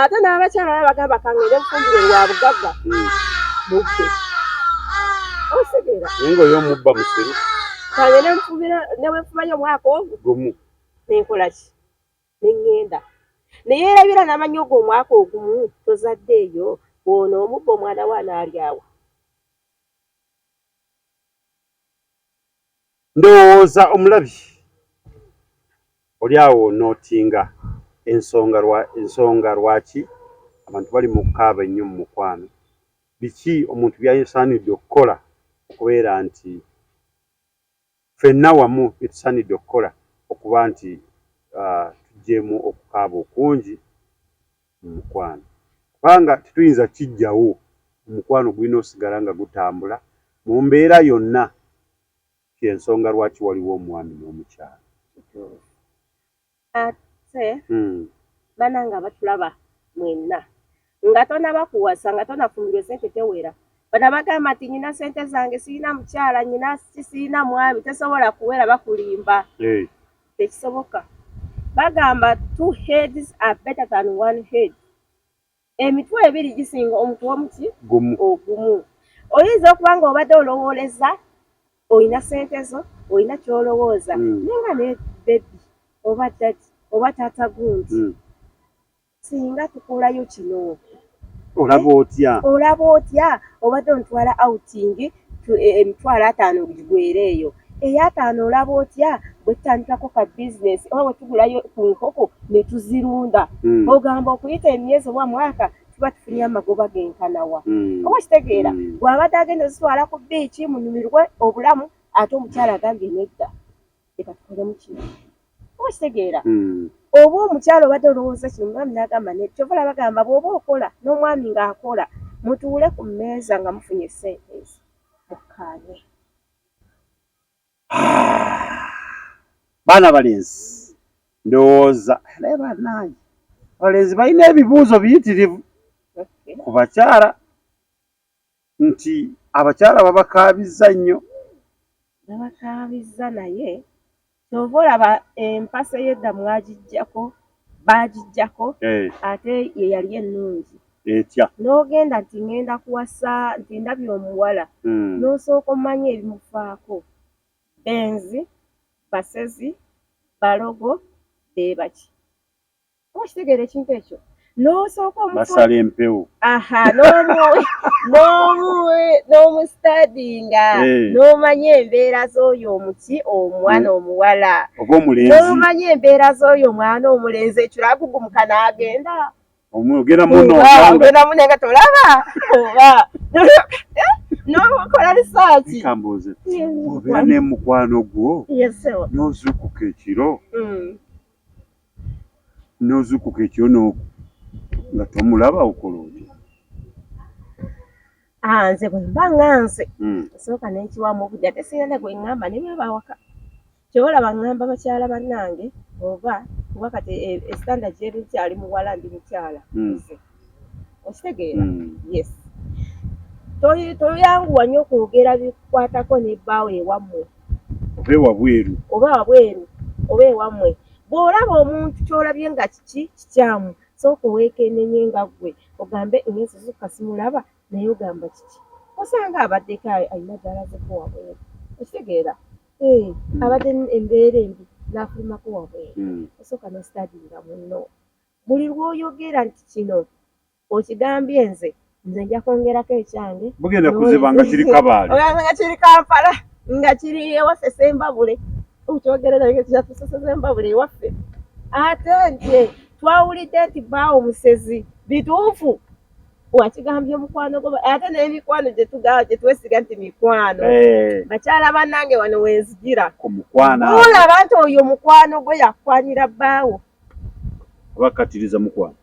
ate n'abakyala baba bagamba kangende nfumbire lwa bugagga hmm. mubbe osigera naye ngaoyo omubba musiru kangende nfubira newefubayo omwaka ogu gumu nenkola ki nengenda naye erabira n'amanyi ogwo omwaka ogumu tozadde eyo bwona omubba omwana we anaalyawo Ndowooza omulabi oli awo onootinga ensonga lwa, ensonga lwaki abantu bali mu kukaaba ennyo mu mukwano. Biki omuntu by'asaanidde okukola okubeera nti ffenna wamu bye tusaanidde okukola okuba nti uh, tugyemu okukaaba okungi mu mukwano kubanga tetuyinza kijjawo omukwano gulina osigala nga gutambula mu mbeera yonna kyensonga lwaki waliwo omwami n'omukyalo ate hmm. bananga abatulaba mwenna nga tonaba kuwasa nga tonafumbirwa esente tewera bana bagamba nti nyina sente zange sirina mukyala nyina sirina mwami tesobola kuwera bakulimba tekisoboka bagamba two heads are better than one head emitwe ebiri gisinga omuntu omuki ogumu oyinza okuba nga obadde olowooleza olina sente zo olina kyolowooza mm. naye nga ne bebi oba dadi oba taata gundi mm. singa tukolayo kino olaba eh? otya olaba otya obadde ontwala outing e, emitwalo ataano gigwere eyo eyataano olaba otya bwetutandikako ka bizinesi oba bwetugulayo ku nkoko netuzirunda hmm. ogamba okuyita emyezi oba mwaka tuba tufunye amagoba genkanawa hmm. oba kitegeera hmm. bwabadde agenda ozitwala ku biiki munyumirwe obulamu ate omukyala agambye nedda leka tukolemu kino oba kitegeera hmm. oba omukyalo obadde olowooza kino omwami nagamba ne kyova olaba gamba bwoba okola n'omwami ng'akola mutuule ku mmeeza nga mufunye esente ezo mukkaanye baana balenzi ndowooza naye banaange abalenzi balina ebibuuzo biyitirivu ku bakyala nti abakyala babakaabizza nnyo babakaabizza naye kyova olaba empasa eyedda mwagijjako baagijjako eh. ate ye yali ennungi etya n'ogenda nti ŋŋenda kuwasa nti ndabye omuwala hmm. n'osooka omanya ebimufaako benzi basezi balogo beebaki okitegeera ekintu ekyo n'osooka omusala empewo aha n'omusitadinga eh. n'omanya embeera z'oyo omuki omwana eh. omuwala n'omanya embeera z'oyo omwana omulenzi ekiro agugumuka n'agenda omwogera munoogera mune nga tolaba oba eh? n'okola risaaki kambuuze obeera n'emukwano gwo n'ozuukuka ekiro mm. n'ozukuka ekiro n'oku nga tomulaba okola otya ah, nze bwe mba nga nze hmm. nsooka n'ekiwamu obudde ate sirina ne gwe ŋŋamba ne baba awaka kyoba olaba ŋŋamba bakyala bannange oba kuba kati esitanda eh, eh, gyeri nkyali muwala ndi mukyala hmm. okitegeera hmm. yes toyanguwa nnyo okwogera bikwatako ne bbaawo ewammwe oba ewabweru oba wabweru oba ewammwe bw'olaba omuntu ky'olabye nga kiki kikyamu sooka oweekennenye nga ggwe ogambe engenzi zukka simulaba naye ogamba kiki osanga abaddeko alina gyalazeko wabweru okitegeera eh, hmm. abadde embeera embi n'afulumako wabweru hmm. osooka n'ositadinga munno Buli lw'oyogera nti kino okigambye nze nze nja kwongerako ekyange bugenda kuziba nga kiri kabaale nga kiri kampala nga kiri ewaffe sembabule okyogerera kyatuseseza embabule ewaffe ate nti twawulidde nti baawo musezi bituufu wakigambye mukwano gwo ate n'emikwano gyetugaa gyetwesiga nti mikwano eh. bakyala banange wano wenzijira olaba nti oyo mukwano gwe yakwanira baawo oba kattiriza mukwano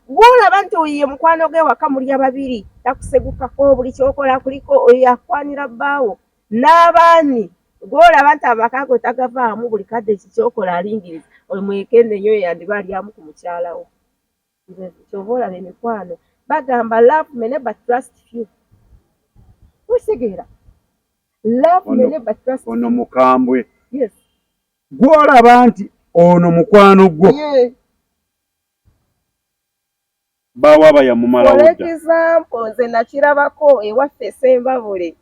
bwolaba nti oyo ye mukwano ge waka mulya babiri takusegukako buli kyokola kuliko oyo akwanira bbaawo n'abaani gwolaba nti amaka go tagavaamu buli kadde kikyokola alingiriza oyo mwekende nyo yandiba alyamu ku mukyala wo kyova olaba emikwano bagamba love mene but trust few okitegeera love mene but trust ono mukambwe yes gw'olaba nti ono mukwano gwo baawo aba yamumalawo dda. For example, nze nakirabako ewaffe Ssembabule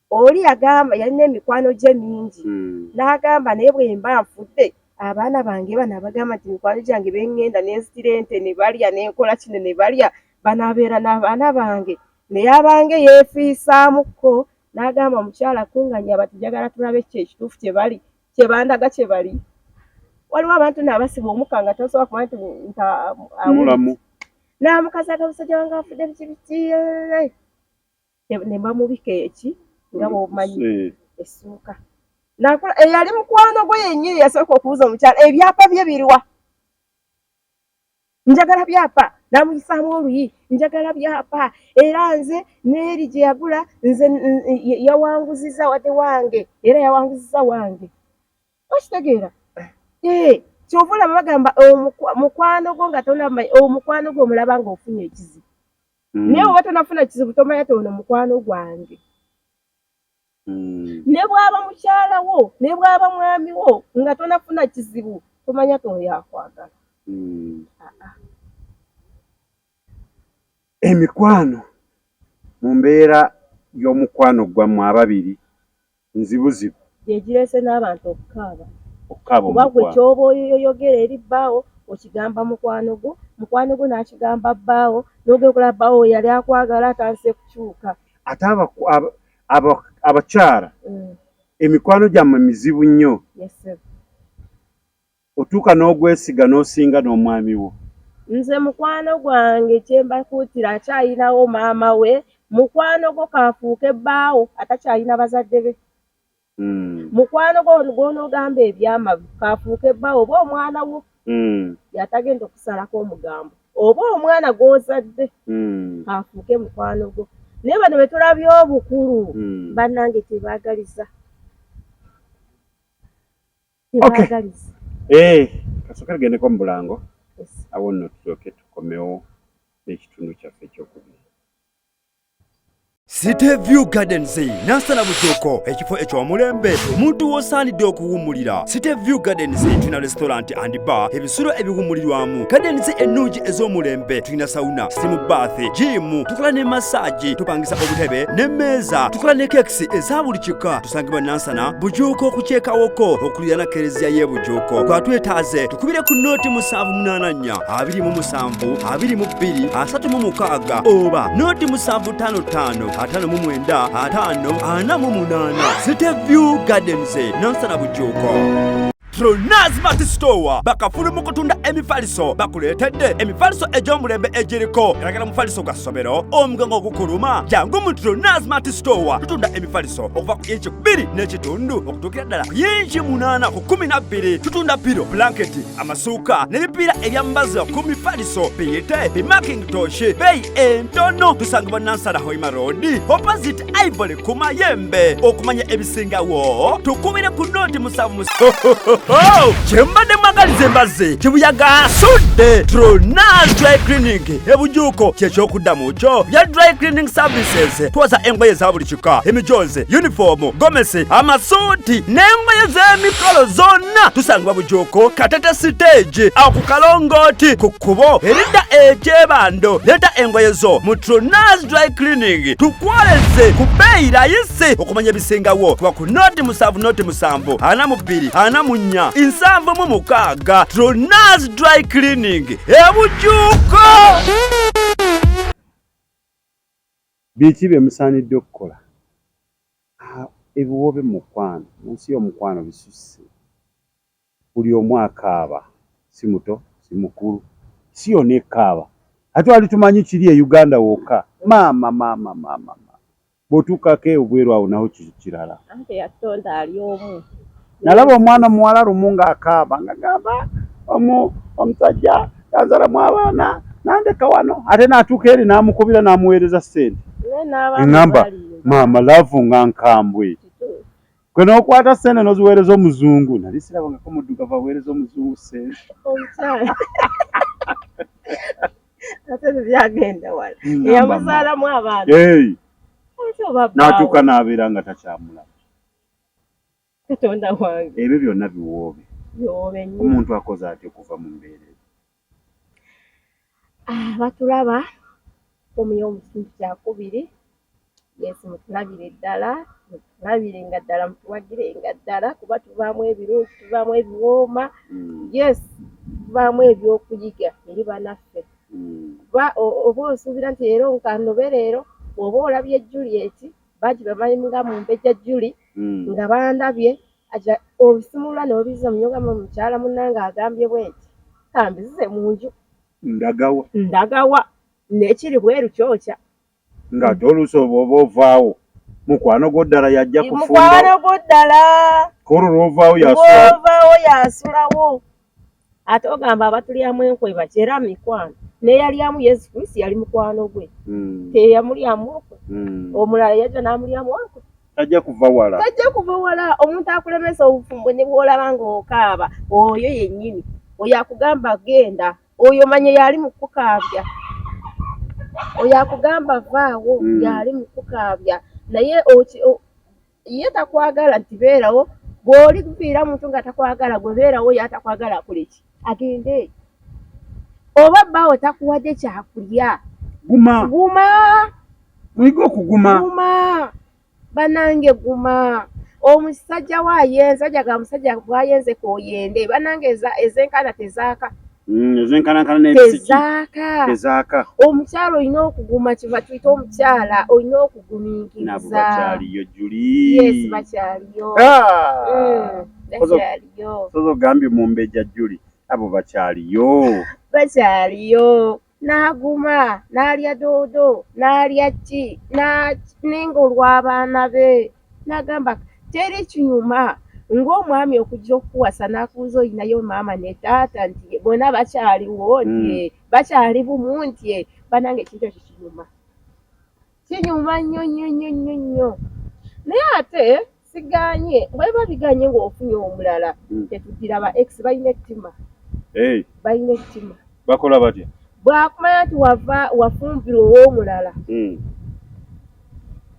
oli yagamba yalina emikwano gye mingi hmm. n'agamba naye bwe mba nfudde abaana bange bano abagamba nti mikwano gyange bengenda nenzitira ente ne balya nenkola kino ne balya banaabeera n'abaana bange naye abange yeefiisaamukko n'agamba omukyala kunganya bati njagala tulabe kyo ekituufu kyebali kyebandaga kyebali waliwo abantu naabasiba omuka nga tosobola kuba nti ntamulamu naamukazi aga musajja wange afudde bikibiki ne mbamubika eki nga bwomanyi essuuka nakula eyali mukwano gwe yennyini yasooka okubuza omukyala ebyapa bye biriwa njagala byapa namuyisaamu oluyi njagala byapa era nze neeri gye yagula nze yawanguziza wade wange era yawanguziza wange okitegeera ee eh, kyova olaba bagamba mukwano gwo nga tonama omukwano gwo omulaba nga ofunye ekizibu mm. naye oba tonafuna kizibu tomanya toono mukwano gwange hmm. ne bwaba mukyala wo ne bwaba mwami wo nga tonafuna kizibu tomanya toyakwagala hmm. ah, ah. emikwano mu mbeera y'omukwano gwammwe ababiri nzibuzibu yegirese n'abantu okukaaba okukaaba oba gwe kyoba oyoyogera eri bbaawo okigamba mukwano gwo mukwano gwo n'akigamba bbaawo n'ogenda okulaba bbaawo yali akwagala atandise kukyuka ate abakyala mm. emikwano gyammwe mizibu nnyo otuuka n'ogwesiga n'osinga n'omwami wo nze mukwano gwange kyembakuutira akyayinawo maama we mukwano gwo kafuuka ebbaawo atakyayina bazadde be mm. mukwano gwo gwonoogamba ebyama kafuuka ebbaawo oba omwana wo mm. yatagenda okusalako omugambo oba omwana gwozadde mm. afuuke mukwano gwo naye bano betulabye obukulu mm. banange tebagaliza tebagaliza okay. eh, kasooka tugendeko mu bulango yes. awo nno tulyoke tukomewo n'ekitundu kyaffe ekyokubiri City View Gardens Nansana Bujoko ekifo ekyomulembe omuntu wosaanidde okuwummulira City View Gardens tulina restaurant and bar ebisulo ebiwummulirwamu gardens ennungi ez'omulembe tulina sauna steam bath jiimu tukola ne masaagi tupangisa obutebe n'emmeeza tukola ne kekisi eza buli kika tusangibwa Nansana Bujoko kukyekawoko okulirana kereziya y'e Bujoko kwatwetaaze tukubire ku nooti musanvu munaana omunya abiri mu musanvu abiri mu bbiri asatu mu mukaaga oba nooti musanvu ttaano ttaano ataano mu mwenda ataano ana mu munaana siteview gardens nansana bujuuko Tronaz Mati Store bakafulu mu kutunda emifaliso bakuleetedde emifaliso egy'omulembe egiriko galagala mufaliso gwa ssomero omugango ogukuluma jangu mu Tronaz Mati Store tutunda emifaliso okuva ku inchi bbiri n'ekitundu okutuukira ddala ku inchi munaana ku kumi na bbiri tutunda piro blanketi amasuuka n'ebipiira ebyambaza ku mifaliso biyite bimakintoshi beeyi entono tusangibwa nansala hoima road opposite ivory ku mayembe okumanya ebisingawo tukubire ku nooti musanvu kyembadde mwagaliza embazi kibuyaga asudde tronas dry clinic ebujuuko kyekyokuddamu kyo bya dry cleaning services twoza engoye za buli kika emijozi yunifoomu gomesi amasuuti n'engoye z'emikolo zonna tusangibwa bujuuko katete siteegi aku kalongooti ku kkubo eridda ekyebando leeta engoye zo mu trunas dry cleaning tukwoleze ku bbeeyi layisi okumanya ebisingawo kuba ku nooti musanvu nooti musanvu ana mu bbiri ana mu nnya nsanvu mu mukaaga trunas dry cleaning ebujuuko Biki bye musaanidde okukola? Ah, ebiwoobe mu mukwano, mu nsi y'omukwano bisusse. Buli omu akaaba, si muto, si mukulu, si yonna ekaaba. Ate wali tumanyi kiri e Uganda wokka? Maama, maama, maama, maama. Bw'otuukako ebweru awo nawo kiri kirala. Anti eyatonda ali omu. nalaba omwana omuwala lumu ng'akaaba nga gamba omu omusajja yazalamu abaana nandeka wano ate natuuka eri namukubira namuweereza ssente eŋamba maama laavu nga nkambwe gwe nokwata ssente noziweereza omuzungu nali sirabangako muddugavu aweereza omuzungu ssente natuuka nabeera nga takyamulaba katonda wange ebyo byonna biwoobe biwoobe nnyo omuntu akoze atya okuva mu mbeera eyo ah, batulaba omuyo omusintu kyakubiri yesu mutulabire ddala mutulabire nga ddala mutuwagire nga ddala kuba tuvaamu ebirungi tuvaamu ebiwooma mm. yes tuvaamu ebyokuyiga eri banaffe mm. kuba oba osuubira nti leero nkanobe leero oba olabye julieti Baji bamanyi nga mumbejja Juli mm. nga bandabye aja obisimulula n'obizza munyoga mu mukyala munnange agambye bwenti kambizize mu nju ndagawa ndagawa nekiri bweru kyokya ng'ate oluusi oba oba ovaawo mukwano gwo ddala yajja kufundamukwano gwo ddala olwo lwovaawo yasulawo yasulawo ate ogamba abatulyamu enkwe baki era mikwano neyalyamu yesu kristo yali mukwano gwe hmm. teyamulyamu okwe hmm. omulala yajja namulyamu okwe tajja kuva wala tajja kuva wala omuntu akulemesa obufumbo ne bwolaba ngaokaaba oyo yennyini oyo akugamba genda oyo manye yali mukukaabya oyo akugamba vaawo hmm. yali mukukaabya naye ye takwagala nti beerawo bw'oli kuviira muntu nga takwagala gwe beerawo ye atakwagala akoleki agende oba bbaawo takuwadde kyakulya guma guma muyiga okuguma guma banange guma omusajja waayenza jaga musajja bwayenze koyende banange ezenkana tezaaka Mm, ezenkanankana nezaaka ezaaka omukyala olina okuguma kiva tuyita omukyala olina okuguminkirizaabo bakyaliyo juli yes bakyaliyo ah! mm, ogambye mumbeja juli abo bakyaliyo bakyaliyo n'aguma n'alya doodo n'alya ki ninga olw'abaana be n'agamba teri kinyuma ng'omwami okujja okukuwasa n'akuuza olinayo maama ne taata nti bona bakyaliwo nti hmm. bakyali bumu nti banange ekintu ekyo kinyuma kinyuma nnyo nnyo nnyo nnyo nnyo naye ate siganye weba biganye ng'ofunye omulala hmm. tetudira ba ex balina ettima balina ettima bakola batya bwakumanya nti wava wafumbirwa ow'omulala hmm.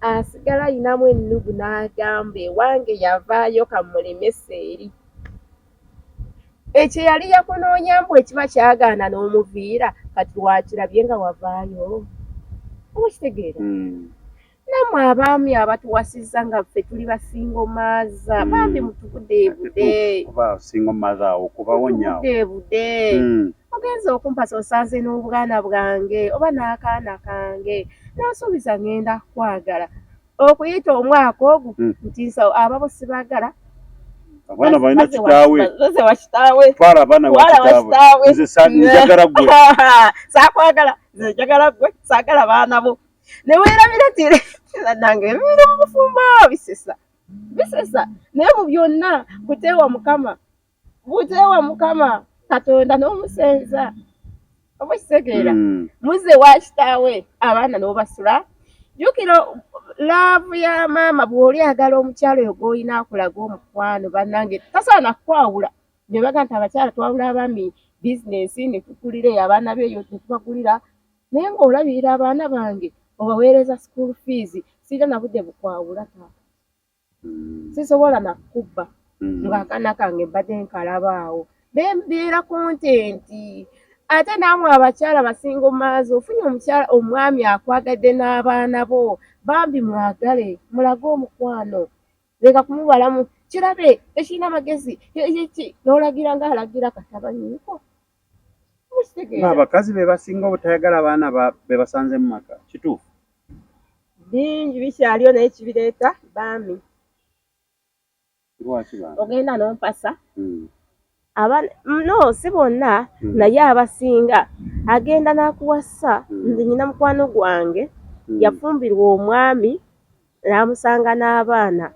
asigala ayinamu ennugu n'agamba ewange yavaayo kamulemesa eri ekyo yali yakunoonya mbu ekiba kyagaana n'omuviira kati wakirabye nga wavaayo oba kitegeera hmm. namwe abaami abatuwasizza nga ffe tuli basingo maaza hmm. bambi mutubudeebude kuba singo maaza awo kubawonyabudeebude hmm. ogenza okumpasa osanze n'obwana bwange oba n'akaana kange n'osuubiza ngenda kwagala okuyita omwaka ogwo hmm. ntinsa ababo sibagala abaana balina kitaawe twala abaana wakitaawe nze njagala gwe sakwagala nze njagala gwe sagala baana bo ne weerabira tire nange biri mu bufumbo bisesa bisesa naye mu byonna kuteewa mukama buteewa mukama katonda n'omusenza oba okitegeera hmm. muze wa kitaawe abaana n'obasula jukira laavu ya maama bw'oli agala omukyalo oyo gw'olina akulaga omukwano bannange tasaana kukwawula bye baga nti abakyala twawula abaami bizinensi ne tukulira eyo abaana beeyo ne tubagulira Naye nga olabirira abaana bange obaweereza school fees sirina nabudde bukwawula taata hmm. sisobola nakukubba hmm. nga akana kange mbadde nkalabaawo bembeera kontenti ate naamwe abakyala basinga omaazi ofunye omukyala omwami akwagadde n'abaana bo bambi mwagale mulage omukwano leka kumubalamu kirabe tekirina magezi yeki nolagira nga alagira katabanyiko abakazi bebasinga obutayagala abaana bebasanze mu maka kituufu bingi bikyaliyo naye kibireeta baami ogenda nompasa hmm. aba no si bonna hmm. naye abasinga agenda n'akuwasa hmm. nze nyina mukwano gwange hmm. yafumbirwa omwami n'amusanga n'abaana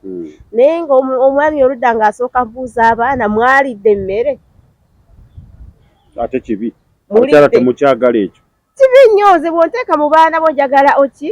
naye nga omwami oludda ng'asooka mbuuza abaana mwalidde emmere ate kibi mukyala temukyagala ekyo kibi nnyo nze bw'onteeka mu baana bo njagala oki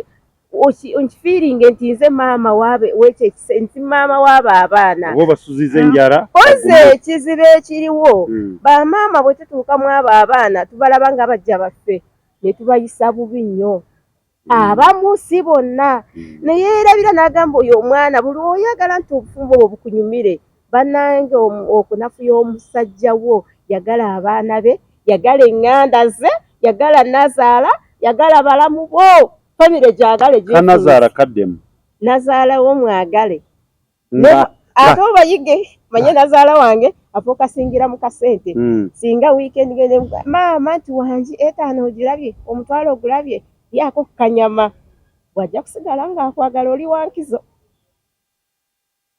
nkifiiringe nti nze maama wekyo ekise nti maama waabo abaana oba obasuziza enjala oze ekizibu ekiriwo hmm. bamaama bwe tutuuka mu abo abaana tubalaba nga bajja baffe ne tubayisa bubi nnyo hmm. abamu si bonna hmm. naye erabira n'agamba oyo omwana buli oyagala nti obufumbo bwe bukunyumire banange okunafu y'omusajja wo yagala abaana be yagala eŋŋanda ze yagala nazaala yagala balamu bo famire gyagale kanazaala kaddemu nazaalawo mwagale ate obayige manye nazaala wange afuuka singira mu kasente hmm. singa wiikendi gende maama nti wangi etaano ogirabye omutwalo ogulabye lyako kukanyama wajja kusigala ng'akwagala oli wankizo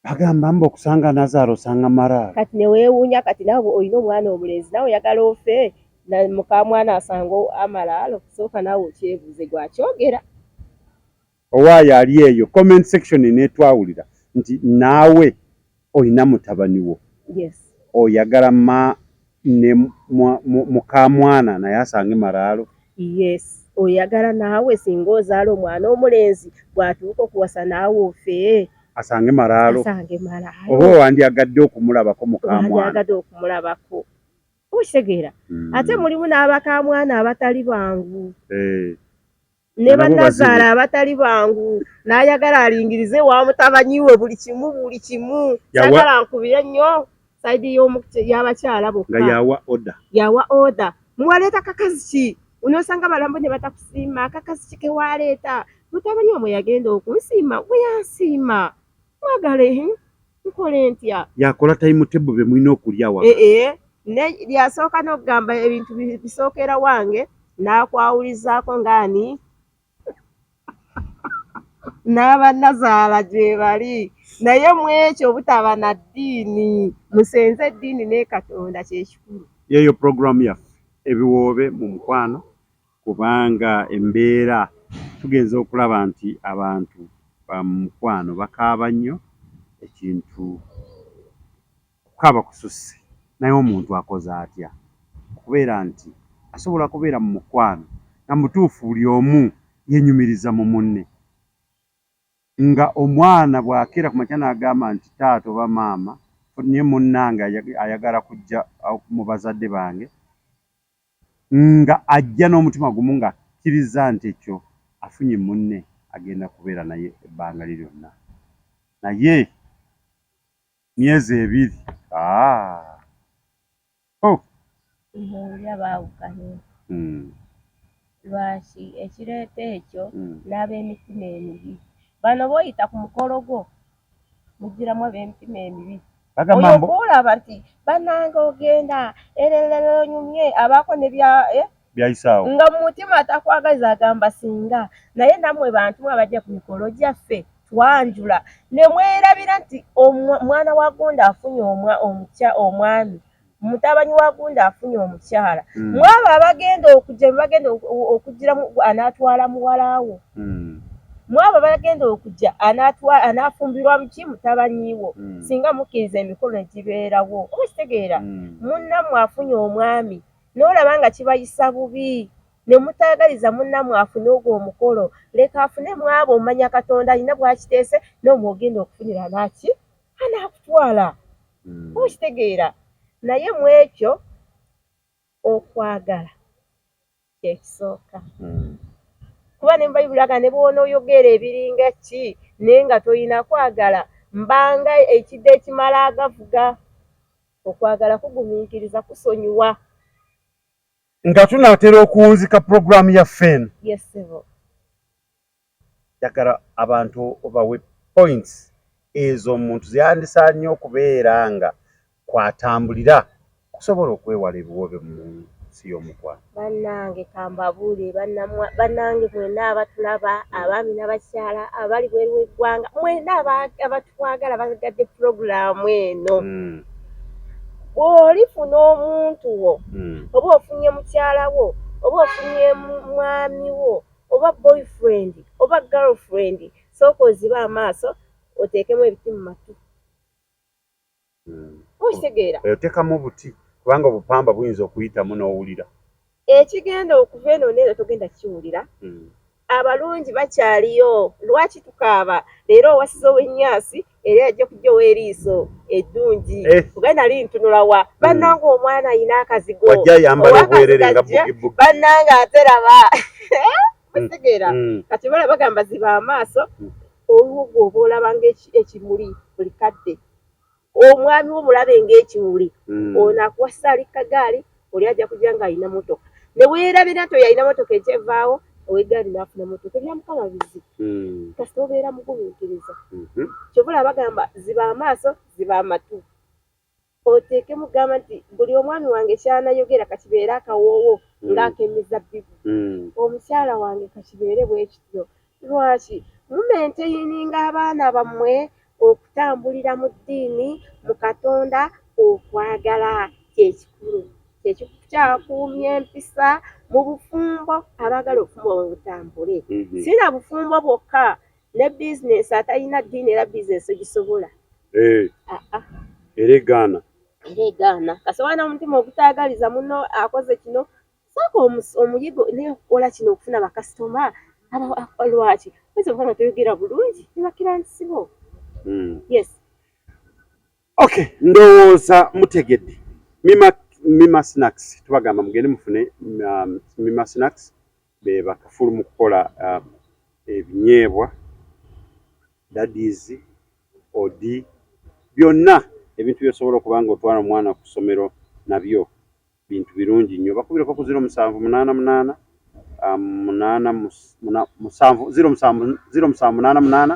Bagamba mbu okusanga nazaala osanga maraalo. Kati ne weewuunya kati nawe olina omwana omulenzi nawe oyagala ofe na mukamwana asanga amalaalo sooka nawe okyebuuze gwakyogera. Owaaye ali eyo comment section netwawulira nti naawe olina mutabani wo. Yes. Oyagala ma ne mukamwana naye asange maraalo yes oyagala naawe singa ozaala omwana omulenzi bwatuuka okuwasa naawe ofee asange maraalo asange maraalo oba wandyagadde okumulabako mukamwanaagadde okumulabako okitegeera hmm. ate mulimu n'abakamwana abatali bangu hey. Eh. ne bannazaala abatali bangu n'ayagala alingirize wa mutabanyi we buli kimu buli kimu sagala nkubire nnyo saidi y'abakyala bokka yawa oda yawa oda muwaleeta kakazi ki unosanga balambo ne batakusiima kakazi ki kewaleeta mutabanyi wamwe yagenda okunsiima gwe yansiima mwagale nkole ntya yakola time table be mulina okulya wa eh eh ne lyasooka n'okugamba ebintu bisookera wange n'akwawulizaako ng'ani n'abanazaala gye bali naye mu ekyo obutaba na ddiini musenze eddiini ne katonda kyekikulu yeeyo puroguramu yaffe ebiwoobe mu mukwano kubanga embeera tugenze okulaba nti abantu ba mukwano bakaaba nnyo ekintu okukaaba kususse naye omuntu akoze atya okubeera nti asobola kubeera mu mukwano nga mutuufu buli omu yenyumiriza mu munne nga omwana bw'akeera ku makya n'agamba nti taata oba maama naye munnange ayagala kujja mu bazadde bange Nga ajja n'omutima gumu nga akkirizza nti ekkyo afunye munne agenda kubeera naye ebbanga lye lyonna. Naye myezi ebiri aah oh! Mbuulira baawukanye. Mm. Lwaki? Ekireeta ekyo, Mm. n'ab'emitima emibi. Bano b'oyita ku mukolo gwo, mujjiramu ab'emitima emibi oyo kuolaba nti banange ogenda erereronyumye abaako ne bya eh? byayisaawo nga mu mutima atakwagaza agamba singa naye namwe bantu mwe abajja ku mikolo gyaffe twanjula ne mwerabira nti omwana wa gonda afunye omwa omukya omwami Mutabani wa Gunda afunye omukyala mm. mwabo abagenda okujja bagenda okujira anatwala muwala wo mm. mwabo abagenda okujja anatwala anafumbirwa muki mutabani wo mm. singa mukkiriza emikolo egibeerawo oba kitegeera mm. munnamwe afunye omwami n'olaba nga kibayisa bubi ne mutaagaliza munnamwe afune ogwo omukolo leka afune mwabo omanya katonda alina bwakiteese n'omwogenda okufunira naki anaakutwala hmm. okitegeera naye mu ekyo okwagala kyekisooka hmm. kuba ne mubayibuli aga ne bwonooyogera ebiringa ki naye nga tolina kwagala mbanga ekidde ekimala agavuga okwagala kugumiikiriza kusonyiwa nga tunaatera okuwunzika puroguraamu ya fen yes, Njagala abantu obawe points ezo omuntu zeyandisanye okubeera nga kwatambulira okusobola okwewala ebiwoobe mu nsi y'omukwano. Bannange kambabuulire bannange mwena abatulaba abaami nabakyala abali bweru w'eggwanga mwena abatwagala bagadde pulogulaamu eno mm. bw'olifuna omuntu wo mm. oba ofunye mukyala wo oba ofunye mwami wo oba boyfriend oba girlfriend sooka ozibe amaaso oteekemu ebiti mu matu hmm. okitegeera eh, otekamu obuti kubanga obupamba buyinza okuyitamu n'owulira ekigenda okuva eno neero togenda kiwulira hmm. abalungi bakyaliyo lwaki tukaaba leero owasiza owenyaasi era yajja okujjawo eriiso eddungi eh. kuba nali ntunula wa hmm. bannanga omwana ayina akazigo bannanga ate laba mutegeera hmm. hmm. kati bala bagamba ziba amaaso olwo gwe oba olaba ngaekimuli buli kadde omwami wo mulabe ngaekimuli ono akuwasa ali kagaali oli ajja kujja ng'alina motoka ne weerabira nti oyo alina motoka ekyevaawo ow'eggaali n'afuna motoka ebya mukama bizi hmm. kasita obeera mugumiikiriza mhm. kyovula abagamba ziba amaaso ziba amatu oteekemu gamba nti buli omwami wange kyanayogera kakibeere akawoowo hmm. ng'akemizabbibu hmm. omukyala wange kakibeere bwekityo Lwaki mumenteyininga abaana bammwe okutambulira mu ddiini, mu Katonda? Okwagala kye kikulu. Kye kikyakuumya empisa mu bufumbo. Abaagala obufumbo bwabwe butambule, si na bufumbo bwokka, ne bizinensi. Atalina ddiini era bizinensi togisobola. Era egaana. Era egaana. Kasita oba n'omutima ogutaagaliza munno akoze kino, sooka omuyigo naye okukola kino okufuna bakasitoma aba lwaki oyinza okuba nga toyogera bulungi ne bakirantisi bo hmm. yes ok ndowooza mutegedde mima mima snacks tubagamba mugende mufune um, mima snacks be bakafulu mu kukola um, ebinyeebwa dadis odi byonna ebintu byosobola okuba nga otwala omwana ku ssomero nabyo bintu birungi nnyo bakubireko ku ziro musanvu munaana munaana um, munaana musanvu ziro musanvu ziro musanvu munaana munaana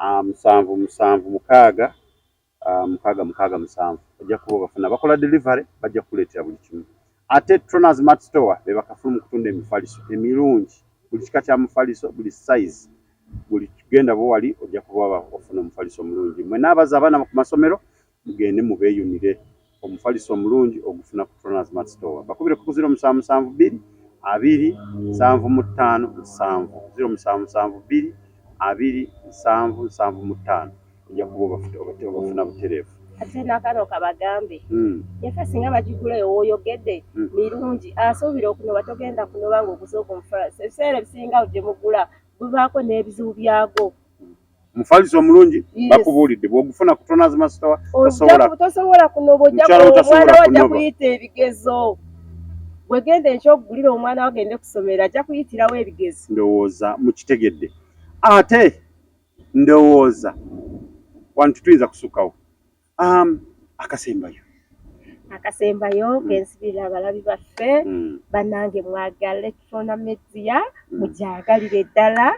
um, musanvu musanvu mukaaga um, mukaaga mukaaga musanvu bajja kuba bafuna bakola delivery bajja kukuleetera buli kimu ate troners mat store be bakafulu mu kutunda emifaliso emirungi buli kika kya mufaliso buli size buli kigenda bwewali ojja kuba ofuna omufaliso omulungi mwe n'abaza abaana ku masomero Mugende mubeeyunire omufaliso omulungi ogufuna ku Troners Mart Store. Bakubire ku ziro musanvu musanvu bbiri abiri nsanvu mu ttaano nsanvu ziro musanvu musanvu bbiri abiri nsanvu nsanvu mu ttaano ojja kuba obafuna butereevu. ate nakano kabagambe hmm. yafe singa bagigula ewoyogedde hmm. mirungi asuubira okunoba togenda kunoba ngaoguze ogumufalasi ebiseera ebisinga gye mugula gubaako n'ebizibu byagwo Mufaliso omulungi bakubuulidde bw'ogufuna ku Tonaz Masitawa tosobola kunoba ojja omwana wo ajja kuyita ebigezo wegenda enkya okugulira omwana wo agende kusomero ajja kuyitirawo ebigezo ndowooza mukitegedde ate ndowooza wantu tuyinza kusukkawo Um, akasembayo akasembayo mm. kensibira abalabi baffe mm. banange mwagale tuna media mm. mujagalire ddala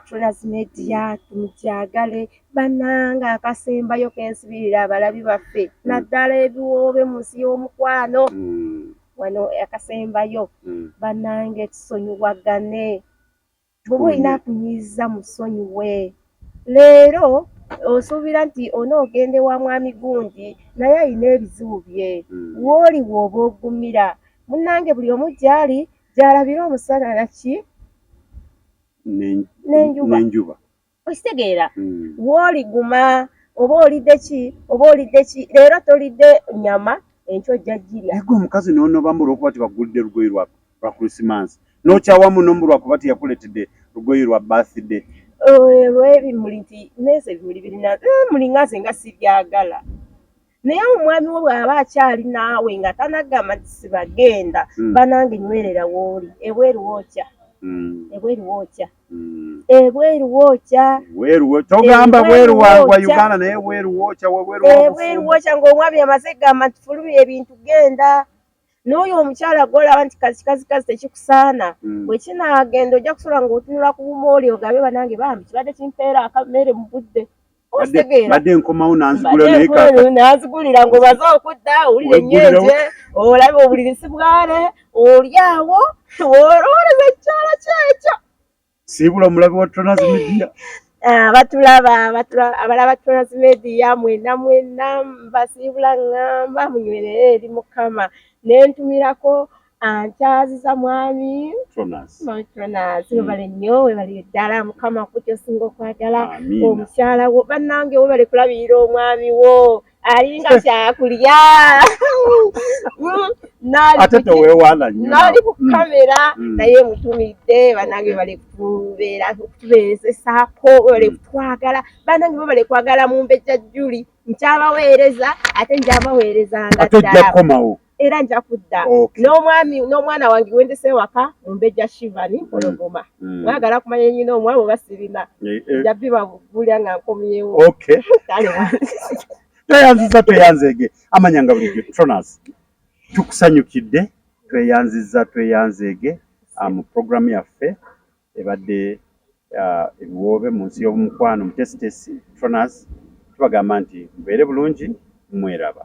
tunas media tumujagale banange akasembayo kensibirira abalabi baffe naddala ebiwoobe mu nsi y'omukwano wano akasembayo banange tusonyiwagane bwoba olina akuyiiza musonyiwe leero osuubira nti onoogende wa mwami gundi naye alina ebizibu bye hmm. wooli wooba ogumira munnange buli omu gyali gyalabira omusana naki nenjuba okitegeera hmm. wooliguma oba olidde ki oba olidde ki leero tolidde nyama enkyo ojja jirya ego omukazi nonoba mbu olwokuba tibagulidde lugoyi lwa christmas nokyawa muno mbu lwakuba teyakuletedde lugoyi lwa birthday olwebimuli nti nese ebimuli birina eh, mulingaze nga sibyagala naye omwami wo bw'aba akyali naawe nga tanagamba nti sibagenda mm. banange nywerera wooli ebweru wookya mm. ebweru wookya mm. ebweru wookya togamba bweru wa uganda naye ebweru wookya ebweru wookya ng'omwami amaze gamba nti fulubi ebintu genda n'oyo omukyala gwolaba nti kazikazi kazi tekikusaana mm. bwe kinaagenda ojja kusobola ng'otunula ku bumooli ogabe banange bambi kibadde kimpeera akameere mu budde badde nkomawo nanzigula naye kaka nanzigulira ngo baza okudda owulira ennyenje olaba obuliri si bwale olyawo olowoleza ekyala kyekyo siibula omulabi wa tonazi media ah, batulaba abalaba tonazi media mwena mwena mbasiibula ngamba munywerere eri mukama nentumirako nkyaziza mwami matronas hmm. webale nnyo webale ddala mukama kuki osinga okwagala omukyala wo bannange webale kulabirira omwami wo alinga kyakulya ate tewewaana nnyo nali ku mm. kamera mm. naye mutumidde banange bali kutubeera okutubeezesaako bali mm. kutwagala banange bo bali kwagala mu mbejja juli nkyabaweereza ate njabaweerezanga ddala era nja kudda okay. n'omwami n'omwana wange wendese ewaka mumbejja shivani mm. mpologoma mm. mwagala mm. kumanya nyina omwabo basirina eh, eh. nja biba bulya nga nkomyewo okay. tweyanziza tweyanzege amanya nga bulijjo tronas tukusanyukidde tweyanziza tweyanzege ah, mu programu yaffe ebadde ah, ebiwoobe mu nsi y'omukwano mutesitesi tronas tubagamba nti mubeere bulungi mweraba